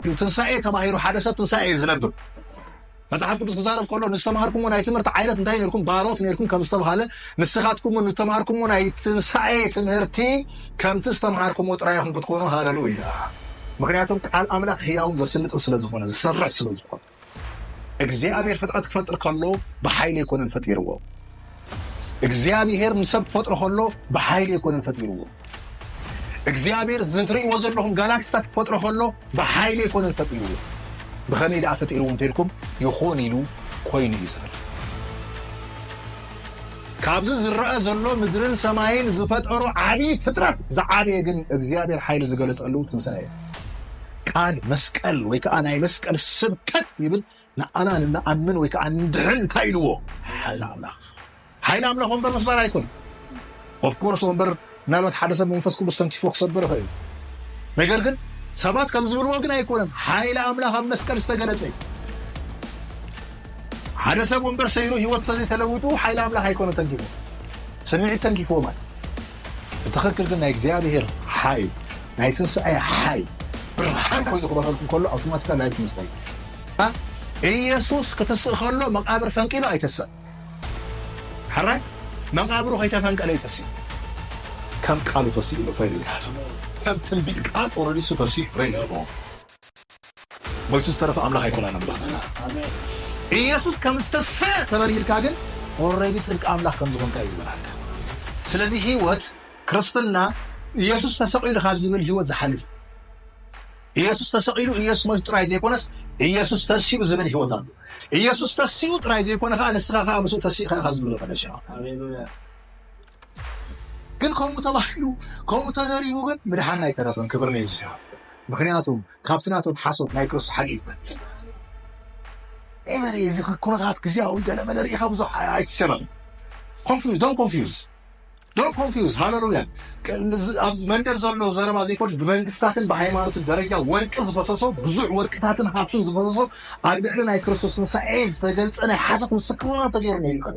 እዩ ትንሳኤ ተማሂሩ ሓደ ሰብ ትንሳኤ እዩ ዝነብር መጽሓፍ ቅዱስ ክዛረብ ከሎ ንዝተማሃርኩምዎ ናይ ትምህርቲ ዓይነት እንታይ ነርኩም ባሮት ነርኩም ከም ዝተባሃለ ንስኻትኩም እውን ዝተማሃርኩምዎ ናይ ትንሳኤ ትምህርቲ ከምቲ ዝተማሃርኩምዎ ጥራይ ኢኹም ክትኮኑ ሃለሉ ኢና ምክንያቱም ቃል ኣምላኽ ህያውን ዘስልጥን ስለ ዝኾነ ዝሰርሕ ስለ ዝኾነ እግዚኣብሔር ፍጥረት ክፈጥር ከሎ ብሓይሊ ኣይኮነን ፈጢርዎ። እግዚኣብሔር ንሰብ ክፈጥሮ ከሎ ብሓይሊ ኣይኮነን ፈጢርዎ። እግዚኣብሔር ዝትርእይዎ ዘለኹም ጋላክሲታት ክፈጥሮ ከሎ ብሓይሊ ኣይኮነን ፈጢርዎ። ብኸመይ ደኣ ፈጢርዎ እንተልኩም ይኹን ኢሉ ኮይኑ እዩ ዝብል። ካብዚ ዝረአ ዘሎ ምድርን ሰማይን ዝፈጠሮ ዓብዪ ፍጥረት ዝዓበየ ግን እግዚኣብሔር ሓይሊ ዝገለጸሉ ትንሣኤ እዩ። ቃል መስቀል ወይ ከዓ ናይ መስቀል ስብከት ይብል ንኣና ንኣምን ወይ ከዓ ንድሕን እንታይ ኢልዎ ሓይል ኣምላኽ ሓይል ኣምላኽ ወንበር ምስባር ኣይኮነ ኦፍኮርስ ወንበር ምናልባት ሓደ ሰብ መንፈስ ቅዱስ ተንኪፎ ክሰብር ይኽእል እዩ ነገር ግን ሰባት ከም ዝብልዎ ግን ኣይኮነን ሓይሊ ኣምላኽ ኣብ መስቀል ዝተገለጸ እዩ ሓደ ሰብ ወንበር ሰይሩ ህይወት ተዘይተለውጡ ሓይሊ ኣምላኽ ኣይኮነ ተንኪፎ ስምዒት ተንኪፍዎ ማለት ብትኽክል ግን ናይ እግዚኣብሔር ሓይል ናይ ትንሣኤ ሓይል ብርሃን ኮይኑ ክበረልኩም ከሎ ኣውቶማቲካ ላይክ ምስጠይ ኢየሱስ ክትስእ ከሎ መቃብር ፈንቂሉ ኣይተሰእ ሕራይ መቃብሩ ከይተፈንቀለ ይተስእ ከም ቃሉ ተስእ ኢሉ ፍሬ ዘይሓቱ ከም ትንቢት ቃል ኦረዲሱ ተስእ ፍሬ ዘለዎ ሞይቱ ዝተረፈ ኣምላኽ ኣይኮናን ኣምላኽና ኢየሱስ ከም ዝተሰ ተበሪህልካ ግን ኦረዲ ጽድቂ ኣምላኽ ከም ዝኾንካ እዩ ዝበርሃልካ ስለዚ ህይወት ክርስትና ኢየሱስ ተሰቒሉ ካብ ዝብል ህይወት ዝሓልፍ ኢየሱስ ተሰቒሉ ኢየሱስ ሞይቱ ጥራይ ዘይኮነስ ኢየሱስ ተሲኡ ዝብል ህይወት ኣሎ ኢየሱስ ተሲኡ ጥራይ ዘይኮነ ከዓ ንስኻ ከዓ ምስኡ ተሲእኻ ኢኻ ዝብሎ ቀደሻ ግን ከምኡ ተባሂሉ ከምኡ ተዘሪቡ ግን ምድሓና ኣይተረፈን ክብሪ ንእግዚኣብሔር ምክንያቱ ካብቲ ናቶም ሓሶት ናይ ክርስቶስ ሓቂ እዩ ዝበልፅ ኤቨሪ እዚ ኩነታት ግዜያዊ ገለመለ ርኢኻ ብዙሕ ኣይትሸበም ኮንፊዝ ዶን ኮንፊዝ ዶን ኮንፊዝ ሃለሉያ ኣብ መንደር ዘሎ ዘረባ ዘይኮን ብመንግስታትን ብሃይማኖትን ደረጃ ወርቂ ዝፈሰሶ ብዙሕ ወርቅታትን ሃብትን ዝፈሰሶ ኣብ ልዕሊ ናይ ክርስቶስ ትንሳኤ ዝተገልፀ ናይ ሓሶት ምስክርና ተገይሩ ነይሩ ይኸደ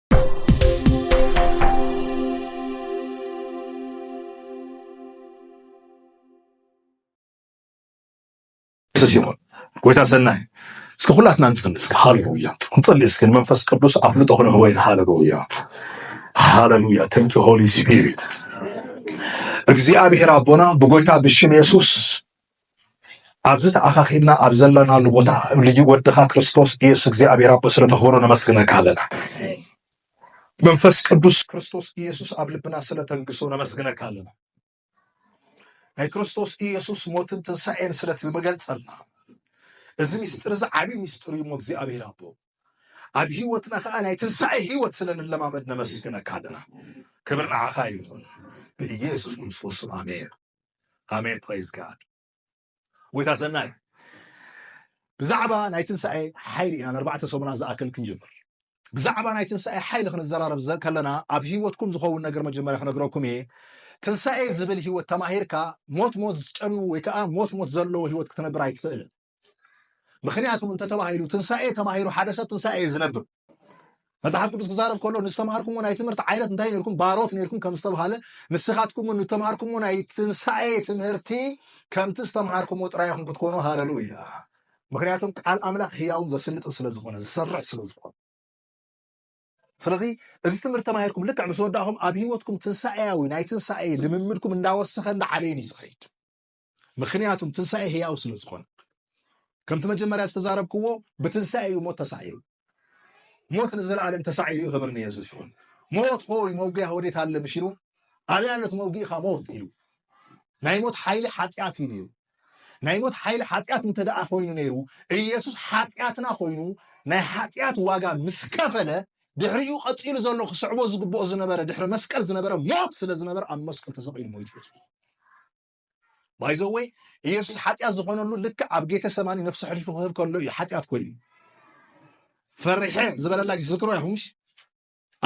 ስ ይኹን ጎይታ ሰናይ እስከ ኩላትና ንጸሊ እስከ ሃለሉያ ንጸሊ እስከ ንመንፈስ ቅዱስ ኣፍልጦ ክንህወይን ሃለሉያ ሃለሉያ ተንኪ ሆሊ ስፒሪት እግዚኣብሔር ኣቦና ብጎይታ ብሽም የሱስ ኣብዚ ተኣኻኺብና ኣብ ዘለናሉ ቦታ ልዩ ወድኻ ክርስቶስ ኢየሱስ እግዚኣብሔር ኣቦ ስለተኽብሮ ነመስግነካ ኣለና። መንፈስ ቅዱስ ክርስቶስ ኢየሱስ ኣብ ልብና ስለተንግሶ ነመስግነካ ኣለና። ናይ ክርስቶስ ኢየሱስ ሞትን ትንሣኤን ስለትመገልጸልና እዚ ምስጢር እዚ ዓብዪ ምስጢር እዩ እሞ እግዚኣብሔር ኣቦ ኣብ ህይወትና ከዓ ናይ ትንሣኤ ህይወት ስለንለማመድ ነመስግነካ ኣለና። ክብር ንዓኻ ይኹን ብኢየሱስ ክርስቶስ ስም ኣሜን። ኣሜን ፕሬዝ ጋድ ጎይታ ሰናይ ብዛዕባ ናይ ትንሳኤ ሓይሊ ኢና ንኣርባዕተ ሰሙናት ዝኣክል ክንጅምር ብዛዕባ ናይ ትንሳኤ ሓይሊ ክንዘራረብ ከለና ኣብ ሂወትኩም ዝኸውን ነገር መጀመርያ ክነግረኩም እየ ትንሳኤ ዝብል ሂወት ተማሂርካ ሞት ሞት ዝጨኑ ወይ ከዓ ሞት ሞት ዘለዎ ሂወት ክትነብር ኣይትኽእልን ምክንያቱ እንተ ተባሂሉ ትንሳኤ ተማሂሩ ሓደ ሰብ ትንሳኤ እዩ ዝነብር መጽሓፍ ቅዱስ ክዛረብ ከሎ ንዝተማሃርኩምዎ ናይ ትምህርቲ ዓይነት እንታይ ነርኩም ባሮት ነርኩም ከም ዝተባሃለ ንስኻትኩም እውን ንተማሃርኩምዎ ናይ ትንሳኤ ትምህርቲ ከምቲ ዝተምሃርኩምዎ ጥራይ ኢኹም ክትኮኑ ሃለሉ እያ ምክንያቱም ቃል ኣምላኽ ህያውን ዘስልጥን ስለ ዝኾነ ዝሰርሕ ስለ ዝኾነ ስለዚ እዚ ትምህርቲ ተማሂርኩም ልክዕ ምስ ወዳእኹም ኣብ ህይወትኩም ትንሳኤያዊ ናይ ትንሳኤ ልምምድኩም እንዳወሰኸ እንዳዓበየን እዩ ዝኸይድ ምክንያቱም ትንሳኤ ህያው ስለ ዝኾነ ከምቲ መጀመርያ ዝተዛረብክዎ ብትንሳኤ እዩ ሞት ተሳዒሩ ሞት ንዘለኣለም ተሳዒሩ እዩ ክብር ንየሱስ ይኹን ሞት ሆይ መውጊያ ወዴት ኣለ ምሽ ኢሉ ኣብያ ነት መውጊእኻ ሞት ኢሉ ናይ ሞት ሓይሊ ሓጢኣት እዩ ነይሩ ናይ ሞት ሓይሊ ሓጢኣት እንተ ደኣ ኮይኑ ነይሩ ኢየሱስ ሓጢኣትና ኮይኑ ናይ ሓጢኣት ዋጋ ምስ ከፈለ ድሕሪኡ ቀፂሉ ዘሎ ክስዕቦ ዝግብኦ ዝነበረ ድሕሪ መስቀል ዝነበረ ሞት ስለ ዝነበረ ኣብ መስቀል ተሰቂሉ ሞይቱ ባይዘወይ ኢየሱስ ሓጢኣት ዝኾነሉ ልክዕ ኣብ ጌተ ሰማኒ ነፍሱ ሕልፉ ክህብ ከሎ እዩ ሓጢኣት ኮይኑ ፈሪሐ ዝበለላ ዝክሮ ይኹምሽ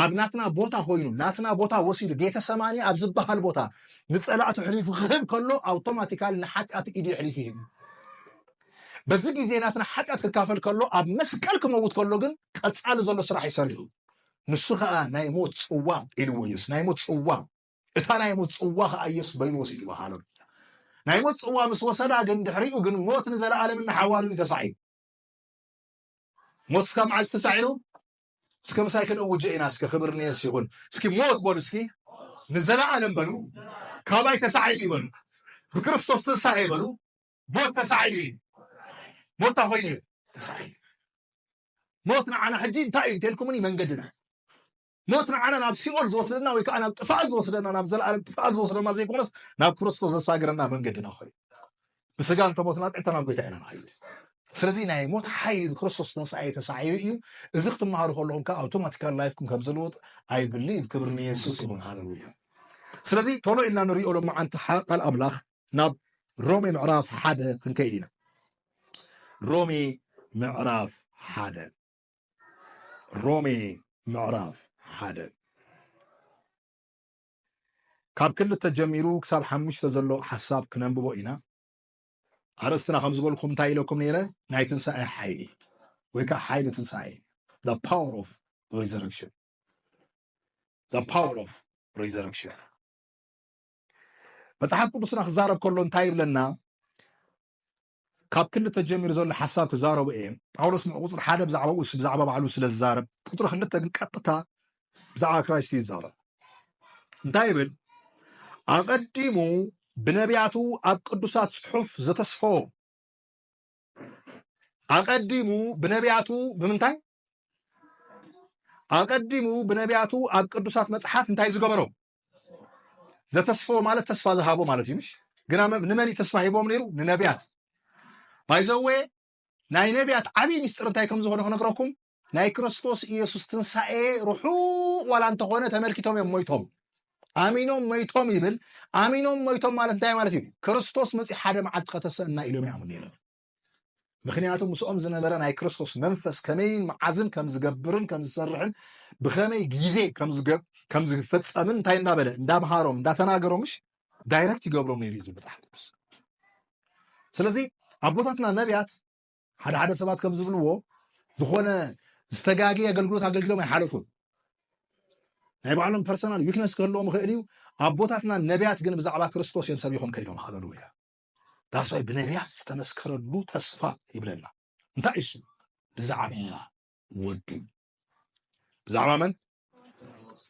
ኣብ ናትና ቦታ ኮይኑ ናትና ቦታ ወሲዱ ጌተ ሰማኒ ኣብ ዝበሃል ቦታ ንፀላእቱ ሕሊፉ ክህብ ከሎ ኣውቶማቲካሊ ንሓጢኣት ኢዱ ሕሊፉ ይህብ በዚ ግዜ ናትና ሓጢኣት ክካፈል ከሎ ኣብ መስቀል ክመውት ከሎ ግን ቀፃሊ ዘሎ ስራሕ ይሰርሑ ንሱ ከዓ ናይ ሞት ፅዋ ኢልዎ ኢየሱስ ናይ ሞት ፅዋ እታ ናይ ሞት ጽዋ ኸኣ ኢየሱስ በይኑ ወሲድዋ። ሃለሉያ! ናይ ሞት ጽዋ ምስ ወሰዳ ግን ድሕሪኡ ግን ሞት ንዘለኣለምን ንሓዋሩን እዩ ተሳዒሩ። ሞት እስካ መዓዝ ተሳዒሩ? እስከ ምሳይ ክንእውጀ ኢና እስከ ክብር ንየሱስ ይኹን። እስኪ ሞት በሉ እስኪ ንዘለኣለም በሉ ካባይ ተሳዒሩ እዩ በሉ ብክርስቶስ ትንሳኤ በሉ ሞት ተሳዒሩ እዩ ሞት እንታይ ኮይኑ እዩ ተሳዒሩ ሞት ንዓና ሕጂ እንታይ እዩ እንተልኩምኒ መንገድና ሞት ንዓና ናብ ሲኦል ዝወስደና ወይ ከኣ ናብ ጥፍኣት ዝወስደና ናብ ዘለኣለም ጥፍኣት ዝወስደና ዘይኮነስ ናብ ክርስቶስ ዘሳግረና መንገድና ኮይኑ ብስጋ እንተሞትና ቀጥታ ናብ ጎይታ ኢና ንኸይድ ስለዚ ናይ ሞት ሓይሊ ብክርስቶስ ትንሳኤ ተሳዒሩ እዩ እዚ ክትመሃሩ ከለኹም ከዓ ኣውቶማቲካል ላይፍኩም ከም ዝልወጥ ኣይ ብሊቭ ክብሪ ንየሱስ ይኹን ሃለሉያ ስለዚ ቶሎ ኢልና ንሪኦ ሎመዓንቲ ቃል ኣምላኽ ናብ ሮሜ ምዕራፍ ሓደ ክንከይድ ኢና ሮሜ ምዕራፍ ሓደ ሮሜ ምዕራፍ ሓደ ካብ ክልተ ጀሚሩ ክሳብ ሓሙሽተ ዘሎ ሓሳብ ክነንብቦ ኢና ኣርእስትና ከም ዝበልኩም እንታይ ኢለኩም ነይረ ናይ ትንሳኤ ሓይሊ ወይ ከዓ ሓይሊ ትንሳኤ ፓወር ኦፍ ሪዘረክሽን ፓወር ኦፍ ሪዘረክሽን መፅሓፍ ቅዱስና ክዛረብ ከሎ እንታይ ይብለና ካብ ክልተ ተጀሚሩ ዘሎ ሓሳብ ክዛረቡ እየ። ጳውሎስ ምዑ ቁጽሪ ሓደ ብዛዕባ ኡስ ብዛዕባ ባዕሉ ስለ ዝዛረብ ቁጽሪ ክልተ ግን ቀጥታ ብዛዕባ ክራይስት እዩ ዝዛረብ። እንታይ ይብል? ኣቐዲሙ ብነቢያቱ ኣብ ቅዱሳት ጽሑፍ ዘተስፈዎ ኣቐዲሙ ብነቢያቱ ብምንታይ ኣቐዲሙ ብነቢያቱ ኣብ ቅዱሳት መጽሓፍ እንታይ ዝገበሮ ዘተስፈዎ ማለት ተስፋ ዝሃቦ ማለት እዩ ምሽ ግና ንመን እዩ ተስፋ ሂቦም ነይሩ ንነቢያት ባይዘወ ናይ ነቢያት ዓብይ ምስጢር እንታይ ከም ዝኾነ ክነግረኩም ናይ ክርስቶስ ኢየሱስ ትንሳኤ ርሑቕ ዋላ እንተኾነ ተመልኪቶም እዮም ሞይቶም ኣሚኖም ሞይቶም ይብል ኣሚኖም ሞይቶም ማለት እንታይ ማለት እዩ ክርስቶስ መፂ ሓደ መዓልቲ ከተሰና ኢሎም ይኣምኑ ነይሮም ምክንያቱ ምስኦም ዝነበረ ናይ ክርስቶስ መንፈስ ከመይን መዓዝን ከም ዝገብርን ከም ዝሰርሕን ብከመይ ግዜ ከም ዝፈፀምን እንታይ እንዳበለ እንዳምሃሮም እንዳተናገሮምሽ ዳይረክት ይገብሮም ነይሩ ዝብል መፅሓፍ ቅዱስ ስለዚ ኣቦታትና ነቢያት ሓደ ሓደ ሰባት ከም ዝብልዎ ዝኾነ ዝተጋገ ኣገልግሎት ኣገልግሎም ኣይሓለፉን ናይ ባዕሎም ፐርሰናል ዊክነስ ክህልዎም ይኽእል እዩ ኣቦታትና ነቢያት ግን ብዛዕባ ክርስቶስ እዮም ሰቢኾም ከይዶም ሃለሉያ ዳሳይ ብነቢያት ዝተመስከረሉ ተስፋ ይብለና እንታይ እሱ ብዛዕባ ወዱ ብዛዕባ መን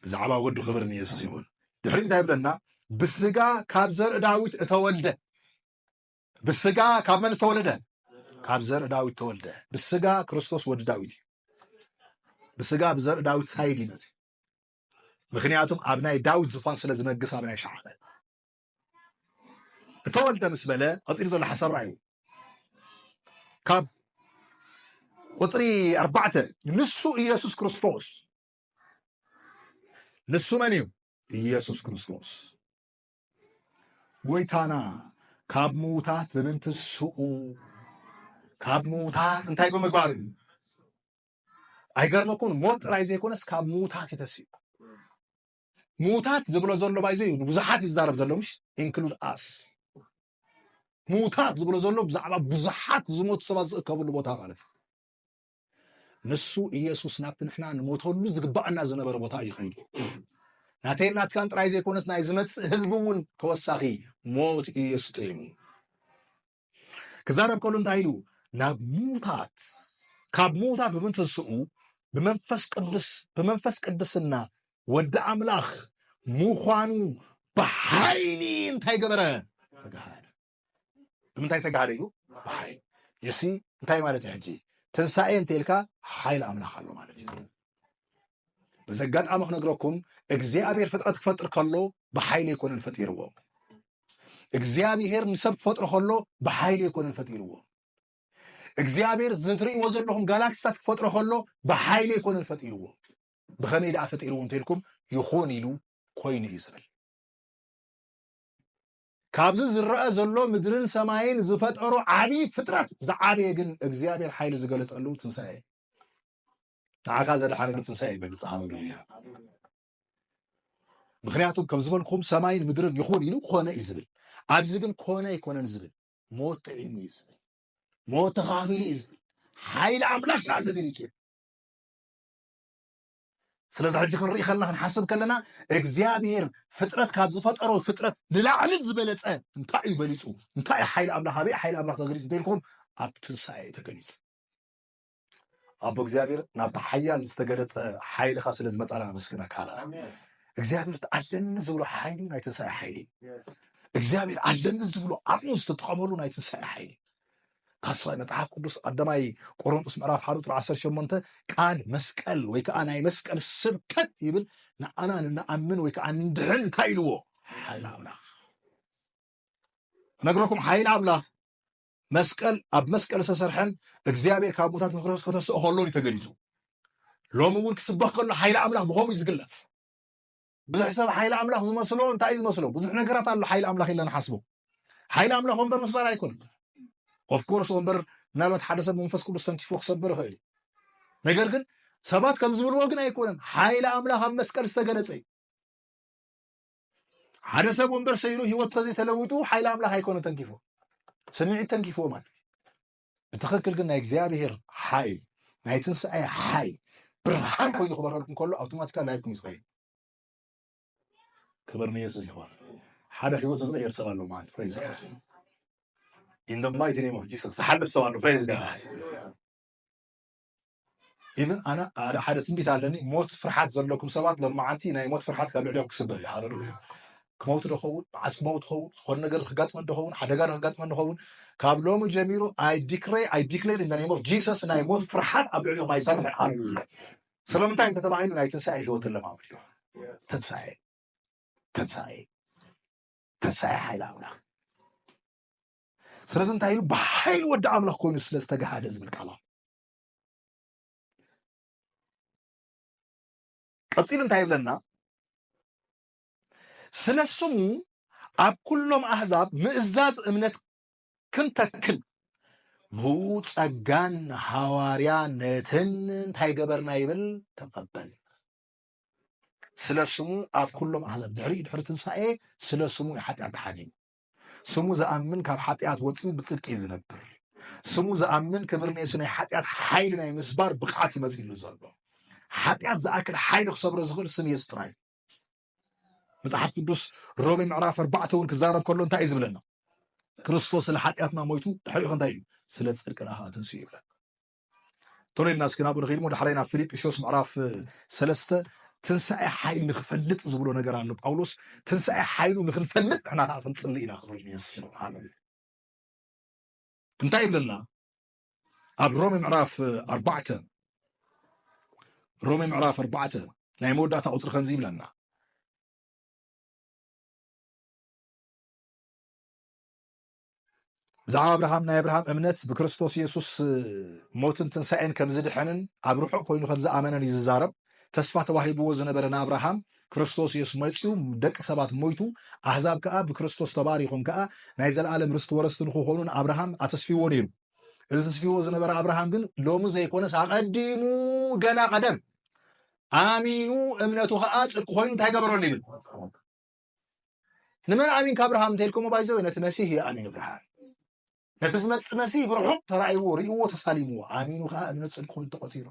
ብዛዕባ ወዱ ክብር ንየሱስ ይኹን ድሕሪ እንታይ ይብለና ብስጋ ካብ ዘርኢ ዳዊት እተወልደ ብስጋ ካብ መን ዝተወለደ ካብ ዘርኢ ዳዊት ተወልደ ብስጋ ክርስቶስ ወዲ ዳዊት እዩ ብስጋ ብዘርኢ ዳዊት ሳይድ ይመፅ ምክንያቱም ኣብ ናይ ዳዊት ዝፋን ስለ ዝነግስ ኣብ ናይ ሸዓበ እተወልደ ምስ በለ ቀፂሉ ዘሎ ሓሳብ ርኣዩ ካብ ቁፅሪ ኣርባዕተ ንሱ ኢየሱስ ክርስቶስ ንሱ መን እዩ ኢየሱስ ክርስቶስ ጎይታና ካብ ምውታት ብምንትስኡ ካብ ምውታት እንታይ ብምግባር እዩ ኣይገርመኩን ሞት ጥራይ ዘይኮነስ ካብ ምውታት ይተስዩ ምዉታት ዝብሎ ዘሎ ባይዘ እዩ ንብዙሓት እዩ ዝዛረብ ዘሎ ምሽ ኢንክሉድ ኣስ ምዉታት ዝብሎ ዘሎ ብዛዕባ ብዙሓት ዝሞቱ ሰባት ዝእከብሉ ቦታ ማለት እዩ ንሱ ኢየሱስ ናብቲ ንሕና ንሞተሉ ዝግባኣና ዝነበረ ቦታ እዩ ከይዱ ናተይ ናትካን ጥራይ ዘይኮነስ ናይ ዝመፅእ ህዝቢ እውን ተወሳኺ ሞት እዩ የስጢሙ ክዛረብ ከሉ እንታይ ኢሉ ናብ ሙታት ካብ ሙታት ብምትንስኡ ብመንፈስ ቅዱስ ብመንፈስ ቅድስና ወዲ ኣምላኽ ምዃኑ ብሓይሊ እንታይ ገበረ ተጋሃደ ብምንታይ ተጋሃደ ኢሉ ብሓይሊ ይሲ እንታይ ማለት ሕጂ ትንሳኤ እንተልካ ሓይሊ ኣምላኽ ኣሎ ማለት እዩ በዚ ኣጋጣሚ ክነግረኩም እግዚኣብሔር ፍጥረት ክፈጥር ከሎ ብሓይሊ ኣይኮነን ፈጢርዎ እግዚኣብሔር ንሰብ ክፈጥሮ ከሎ ብሓይሊ ኣይኮነን ፈጢርዎ እግዚኣብሔር ዝትርእይዎ ዘለኹም ጋላክሲታት ክፈጥሮ ከሎ ብሓይሊ ኣይኮነን ፈጢርዎ ብኸመይ ደኣ ፈጢርዎ እንተልኩም ይኹን ኢሉ ኮይኑ እዩ ዝብል ካብዚ ዝረአ ዘሎ ምድርን ሰማይን ዝፈጠሮ ዓብዪ ፍጥረት ዝዓበየ ግን እግዚኣብሔር ሓይሊ ዝገለፀሉ ትንሳኤ ንዓኻ ዘድሓነ ብትንሳኤ እዩ በልጽ ሃበሉ እያ ምክንያቱም ከም ዝበልኩም ሰማይን ምድርን ይኹን ኢሉ ኮነ እዩ ዝብል ኣብዚ ግን ኮነ ኣይኮነን ዝብል ሞት ጥዒሙ እዩ ዝብል ሞት ተኻፊሉ እዩ ዝብል ሓይሊ ኣምላኽ ከዓ ተገሊፁ እዩ ስለዚ ሕጂ ክንርኢ ከለና ክንሓስብ ከለና እግዚኣብሄር ፍጥረት ካብ ዝፈጠሮ ፍጥረት ንላዕሊ ዝበለፀ እንታይ እዩ በሊፁ እንታይ እዩ ሓይሊ ኣምላኽ ኣበይ ሓይሊ ኣምላኽ ተገሊፁ እንተኢልኩም ኣብ ትንሳኤ ተገሊፁ ኣቦ እግዚኣብሔር ናብቲ ሓያል ዝተገለፀ ሓይልኻ ስለ ዝመፃና ነመስግነካ ኣለና እግዚኣብሔር ኣለኒ ዝብሎ ሓይሊ ናይ ትንሳኤ ሓይሊ እግዚኣብሔር ኣለኒ ዝብሎ ዓቕሙ ዝተጠቐመሉ ናይ ትንሳኤ ሓይሊ ካስዋይ መጽሓፍ ቅዱስ ቀዳማይ ቆሮንጦስ ምዕራፍ ሓደ ቁጥሪ 18 ቃል መስቀል ወይ ከዓ ናይ መስቀል ስብከት ይብል ንኣና ንኣምን ወይ ከዓ ንድሕን እንታይ ኢልዎ ሓይል ኣምላኽ ነግረኩም ሓይል ኣምላኽ መስቀል ኣብ መስቀል ዝተሰርሐን እግዚኣብሔር ካብ ሙታት ንክርስቶስ ከተስኦ ከሎን እዩ ተገሊጹ ሎሚ እውን ክስበኽ ከሎ ሓይሊ ኣምላኽ ብከምኡ እዩ ዝግለጽ ብዙሕ ሰብ ሓይሊ ኣምላኽ ዝመስሎ እንታይ እዩ ዝመስሎ ብዙሕ ነገራት ኣሎ ሓይሊ ኣምላኽ ኢልና ንሓስቦ ሓይሊ ኣምላኽ ወንበር ምስባር ኣይኮነን ኦፍኮርስ ወንበር ምናልባት ሓደ ሰብ መንፈስ ቅዱስ ተንኪፎ ክሰብር ይኽእል እዩ ነገር ግን ሰባት ከም ዝብልዎ ግን ኣይኮነን ሓይሊ ኣምላኽ ኣብ መስቀል ዝተገለጸ እዩ ሓደ ሰብ ወንበር ሰይሩ ህይወት ተዘይተለውጡ ሓይሊ ኣምላኽ ኣይኮነ ተንኪፎ ስምዒት ተንኪፎ ማለት እዩ ብትኽክል ግን ናይ እግዚኣብሄር ሓይል ናይ ትንስኤ ሓይል ብርሃን ኮይኑ ክበረልኩም ከሎ ኣውቶማቲካ ላይፍኩም ይዝኸይድ ክብር ንየሱስ ይኾን ሓደ ህይወት ዝቕየር ሰብ ኣሎ ማለት ፕሬዝ ኢን ማይቲ ኔም ኦፍ ጂሰስ ዝሓልፍ ሰብ ኣሎ ፕሬዝ ጋድ ኢቭን ኣነ ሓደ ትንቢት ኣለኒ ሞት ፍርሓት ዘለኩም ሰባት ሎማዓንቲ ናይ ሞት ፍርሓት ካብ ልዕሊኦም ክስበር እዩ ሃለሉያ ክመውት ዶኸውን መዓስ ክመውት ኸውን ዝኾነ ነገር ክጋጥመን ዶኸውን ሓደጋ ክጋጥመን ዶኸውን ካብ ሎሚ ጀሚሩ ኣይ ዲክሬ ኣይ ዲክሌር ኢን ኔም ኦፍ ጂሰስ ናይ ሞት ፍርሓት ኣብ ልዕሊኦም ኣይሰርሕን ሃለሉያ ስለምንታይ እንተተባሂሉ ናይ ትንሳኤ ህይወት ለማመድ እዩ ትንሳኤ ትንሳኤ ትንሳኤ ሓይል ኣምላኽ ስለዚ እንታይ ኢሉ ብሓይሊ ወዲ ኣምላኽ ኮይኑ ስለ ዝተጋሃደ ዝብል ቃል ኣሎ ቀፂሉ እንታይ ይብለና ስለ ስሙ ኣብ ኩሎም ኣህዛብ ምእዛዝ እምነት ክንተክል ብጸጋን ሃዋርያነትን እንታይ ገበርና ይብል ተቐበል ስለ ስሙ ኣብ ኩሎም ኣህዛብ ድሕሪ ድሕሪ ትንሳኤ ስለ ስሙ ሓጢኣት ተሓዲሙ ስሙ ዝኣምን ካብ ሓጢኣት ወፂኡ ብፅድቂ እዩ ዝነብር ስሙ ዝኣምን ክብሪ ንሱ ናይ ሓጢኣት ሓይሊ ናይ ምስባር ብቕዓት ይመፅሉ ዘሎ ሓጢኣት ዝኣክል ሓይሊ ክሰብሮ ዝኽእል ስም የሱስ ጥራይ መጽሓፍ ቅዱስ ሮሜ ምዕራፍ ኣርባዕተ እውን ክዛረብ ከሎ እንታይ እዩ ዝብለና ክርስቶስ ስለ ሓጢኣትና ሞይቱ ድሕሪኡ እንታይ እዩ ስለ ፅድቅና ከዓ ተንስኡ ይብለና ቶሎ ኢልና እስኪ ናብኡ ንኸይድ እሞ ዳሕራይ ናብ ፊልጵስዮስ ምዕራፍ ሰለስተ ትንሣኤ ሓይል ንክፈልጥ ዝብሎ ነገር ኣሎ ጳውሎስ ትንሣኤ ሓይሉ ንክንፈልጥ ንሕና ከዓ ክንፅሊ ኢና ክብል ይስልዓለ እንታይ ይብለና ኣብ ሮሜ ምዕራፍ ኣርባዕተ ሮሜ ምዕራፍ ኣርባዕተ ናይ መወዳእታ ቁፅሪ ከምዚ ይብለና ብዛዕባ ኣብርሃም ናይ ኣብርሃም እምነት ብክርስቶስ የሱስ ሞትን ትንሳኤን ከም ዝድሐንን ኣብ ርሑቕ ኮይኑ ከም ዝኣመነን እዩ ዝዛረብ። ተስፋ ተዋሂብዎ ዝነበረ ንኣብርሃም ክርስቶስ የሱስ መጺኡ ደቂ ሰባት ሞይቱ ኣህዛብ ከኣ ብክርስቶስ ተባሪኾም ከኣ ናይ ዘለኣለም ርስቲ ወረስቲ ንክኾኑ ንኣብርሃም ኣተስፊዎ ነይሩ። እዚ ተስፊዎ ዝነበረ ኣብርሃም ግን ሎሚ ዘይኮነስ ኣቐዲሙ ገና ቀደም ኣሚኑ እምነቱ ከኣ ጽድቂ ኮይኑ እንታይ ገበረሉ ይብል ንመን ኣሚንካ ኣብርሃም እንተልኩሞ ባይዘወ ነቲ መሲህ እዩ ኣሚኑ ብርሃን ነቲ ዝመፅ መሲህ ብርሑቕ ተራእይዎ ርእዎ ተሳሊምዎ ኣሚኑ ከዓ እምነት ፅድቂ ኮይኑ ተቆፂሩ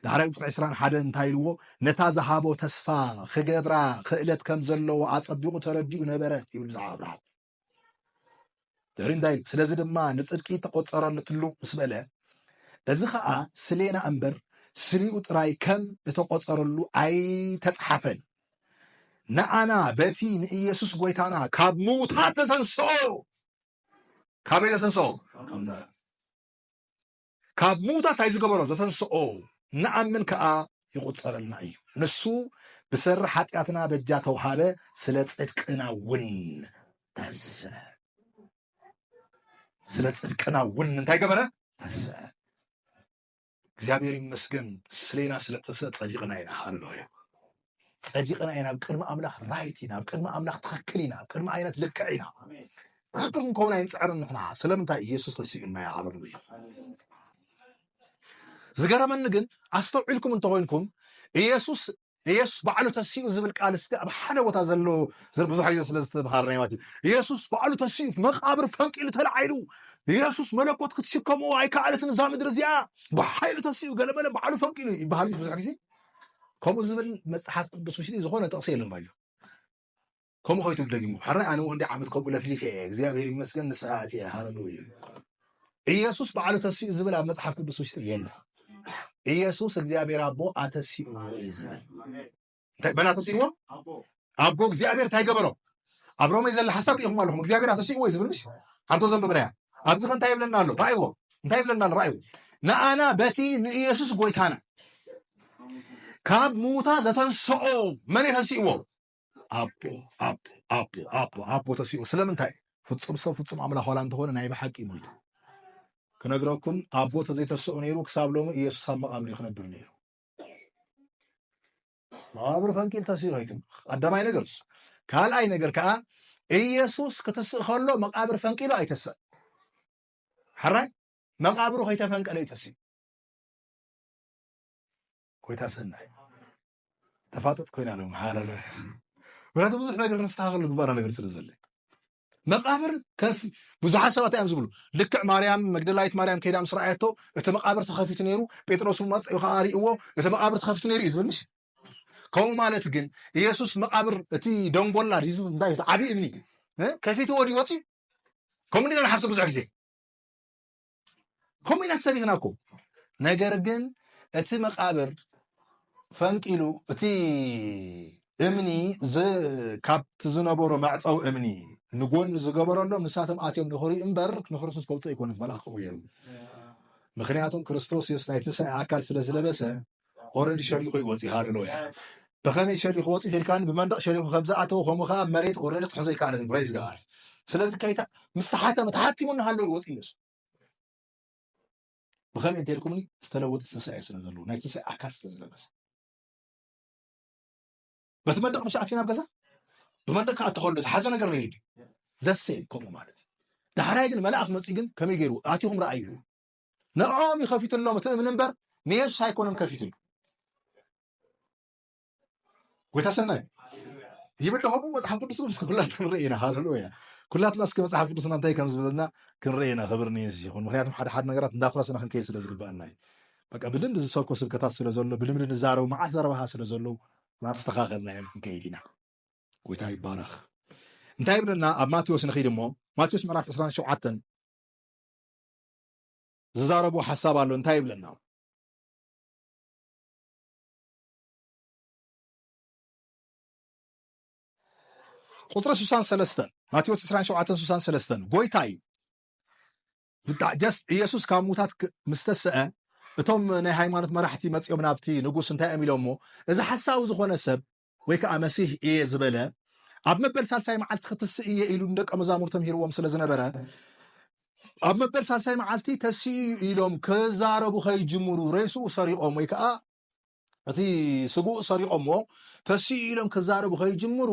ዳሕራይ ቁፅሪ ዕስራን ሓደ እንታይ ኢልዎ ነታ ዝሃቦ ተስፋ ክገብራ ክእለት ከም ዘለዎ ኣፀቢቑ ተረዲኡ ነበረ ይብል ብዛዕባ ኣብርሃም ዘርኢ እንታይ ኢሉ ስለዚ ድማ ንፅድቂ ተቆፀረትሉ ምስ በለ እዚ ከዓ ስሌና እምበር ስሪኡ ጥራይ ከም እተቆፀረሉ ኣይተፅሓፈን ንኣና በቲ ንኢየሱስ ጎይታና ካብ ምውታት ተሰንስኦ ካበይ ተሰንስኦ ካብ ምዉታት ኣይ ዝገበሮ ዘተንስኦ ንኣምን ከኣ ይቁጸረልና እዩ ንሱ ብሰሪ ሓጢኣትና በጃ ተውሃበ ስለ ጽድቅና ውን ተሰ ስለ ጽድቅና ውን እንታይ ገበረ ተሰ እግዚኣብሔር ይመስገን ስሌና ስለ ተሰ ጸዲቅና ኢና ሃለሉያ ጸዲቕና ኢና፣ ኣብ ቅድሚ ኣምላኽ ራይት ኢና፣ ኣብ ቅድሚ ኣምላኽ ትኽክል ኢና፣ ኣብ ቅድሚ ኣይነት ልክዕ ኢና። ትኽክል ክንከውን ኣይንጽዕርን ንሕና ስለምንታይ ኢየሱስ ተሲኡና ይዓበሩ እዩ። ዝገረመኒ ግን ኣስተውዒልኩም እንተኾይንኩም ኢየሱስ ኢየሱስ ባዕሉ ተሲኡ ዝብል ቃል እስከ ኣብ ሓደ ቦታ ዘሎ ብዙሕ ግዜ ስለ ዝተምሃርና ማለት እዩ ኢየሱስ ባዕሉ ተሲኡ መቃብር ፈንቂሉ ተላዒሉ ኢየሱስ መለኮት ክትሽከምዎ ኣይከኣለትን እዛ ምድሪ እዚኣ ብሓይሉ ተሲኡ ገለመለ ባዕሉ ፈንቂሉ ይበሃል ብዙሕ ግዜ ከምኡ ዝብል መጽሓፍ ቅዱስ ውሽጢ ዝኾነ ጥቕሲ የለን ባይዘ ከምኡ ከይትብል ደጊሙ ሕራይ ኣነ ወንዲ ዓመት ከምኡ ለፍሊፈ እየ እግዚኣብሔር ይመስገን ንስሓ ኣትየ ሃለሉያ ኢየሱስ በዓሉ ተሲኡ ዝብል ኣብ መጽሓፍ ቅዱስ ውሽጢ የለ ኢየሱስ እግዚኣብሔር ኣቦ ኣተሲኡ እዩ ዝብል እንታይ መን ኣተሲእዎ ኣቦ እግዚኣብሔር እንታይ ገበሮ ኣብ ሮሜ ዘለ ሓሳብ ሪኢኹም ኣለኹም እግዚኣብሔር ኣተሲእዎ እዩ ዝብል ምሽ ሓንቶ ዘንበብናያ ኣብዚ ከ እንታይ ይብለና ኣሎ ራእይዎ እንታይ ይብለና ኣሎ ራእይዎ ንኣና በቲ ንኢየሱስ ጎይታና ካብ ሙታ ዘተንስኦ መን የተንስእዎ ኣቦ ኣቦ ኣቦ ኣቦ ኣቦ ተሲኡ ስለምንታይ ፍፁም ሰብ ፍፁም ኣምላኽ ዋላ እንተኾነ ናይ ብሓቂ ሞይቱ ክነግረኩም ኣቦ ተዘይተስኡ ነይሩ ክሳብ ሎሚ ኢየሱስ ኣብ መቓብር ክነብር ነይሩ መቓብር ፈንቂል ተሲኡ ኣይትም ቀዳማይ ነገር እሱ ካልኣይ ነገር ከዓ ኢየሱስ ክትስእ ከሎ መቃብር ፈንቂሉ ኣይተሰእ ሕራይ መቃብሩ ከይተፈንቀለ ይተሲ ኮይታ ሰናይ ተፋጠጥ ኮይና ለ ሃለ ምክንያቱ ብዙሕ ነገር ንስተካከሉ ግባራ ነገር ስለ ዘለ መቃብር ከፍ ብዙሓት ሰባት እዮም ዝብሉ ልክዕ ማርያም መግደላዊት ማርያም ከይዳ ምስ ረኣየቶ እቲ መቃብር ተኸፊቱ ነይሩ ጴጥሮስ መፅኡ ከዓ ርእዎ እቲ መቃብር ተኸፊቱ ነይሩ እዩ ዝብል ምሽ ከምኡ ማለት ግን ኢየሱስ መቃብር እቲ ደንጎላ ድዩ እንታይ ዓብዪ እምኒ ከፊትዎ ድዩ ወፂኡ ከምኡ ኢና ንሓስብ ብዙሕ ግዜ ከምኡ ኢና ተሰቢኽና እኮ ነገር ግን እቲ መቃብር ፈንቂሉ እቲ እምኒ ካብቲ ዝነበሮ መዕፀዊ እምኒ ንጎኒ ዝገበረሎ ንሳቶም ኣትዮም ንኽሪኡ እምበር ንክርስቶስ ከውፅኦ ኣይኮነን መልኣኽ ከምኡ ገይሩ ምክንያቱም ክርስቶስ የሱስ ናይ ትንሳኤ ኣካል ስለ ዝለበሰ ኦረዲ ሸሪኹ ዩ ወጺኡ ሃለሎ ያኢ ብኸመይ ሸሪኹ ወጺኡ ተልካኒ ብመንደቕ ሸሪኹ ከም ዝኣተወ ከምኡ ከኣ መሬት ኦረዲ ክሕዞ ኣይከኣለን ፕሬዝ ጋድ ስለዚ ከይታ ምስ ተሓተመ ተሓቲሙ እናሃለወ ዩ ወጺኡ ዮስ ብኸመይ እንተልኩምኒ ዝተለወጠ ትንሳኤ ስለ ዘለዎ ናይ ትንሳኤ ኣካል ስለ ዝለበሰ በቲ መንደቕ ምስ ኣትዩ ናብ ገዛ ብመንደቕ ከዓ እተኸሎ ዝሓዘ ነገር ነይሩ ዘሴ ከምኡ ማለት እዩ ዳሕራይ ግን መልኣኽ መፅኡ ግን ከመይ ገይሩ ኣትኹም ረኣዩ ንዕኦም እዩ ከፊትሎም እቲ እምኒ እምበር ንየሱስ ኣይኮነን ከፊትሉ ጎይታ ሰናይ ይብል ደኹም መፅሓፍ ቅዱስ ቅዱስ ኩላትና ንርኢ ኢና ሃለሉያ ኩላትና እስኪ መፅሓፍ ቅዱስና እንታይ ከም ዝበለና ክንርኢ ኢና ክብር ንየሱስ ይኹን ምክንያቱም ሓደ ሓደ ነገራት እንዳፍረስና ክንከይድ ስለ ዝግበአና እዩ በቃ ብልምድ ዝሰብኮ ስብከታት ስለ ዘሎ ብልምድ ንዛረቡ መዓት ዘረባኻ ስለ ዘለዉ ናስተኻኸልና እዮም ክንከይድ ኢና ጎይታ ይባረኽ እንታይ ይብለና ኣብ ማቴዎስ ንኺድ እሞ ማቴዎስ ምዕራፍ 27 ዝዛረቦ ሓሳብ ኣሎ እንታይ ይብለና ቁፅሪ 63 ማቴዎስ 27 63 ጎይታ እዩ ብጣዕ ጀስ ኢየሱስ ካብ ሙታት ምስ ተስአ እቶም ናይ ሃይማኖት መራሕቲ መፂኦም ናብቲ ንጉስ እንታይ እዮም ኢሎሞ እዚ ሓሳዊ ዝኾነ ሰብ ወይ ከኣ መሲህ እየ ዝበለ ኣብ መበል ሳልሳይ መዓልቲ ክትስእ እየ ኢሉ ንደቀ መዛሙርቱ ተምሂርዎም ስለ ዝነበረ ኣብ መበል ሳልሳይ መዓልቲ ተሲኡ እዩ ኢሎም ክዛረቡ ከይጅምሩ ሬስኡ ሰሪቖም ወይ ከዓ እቲ ስግኡ ሰሪቖምዎ ተሲኡ ኢሎም ክዛረቡ ከይጅምሩ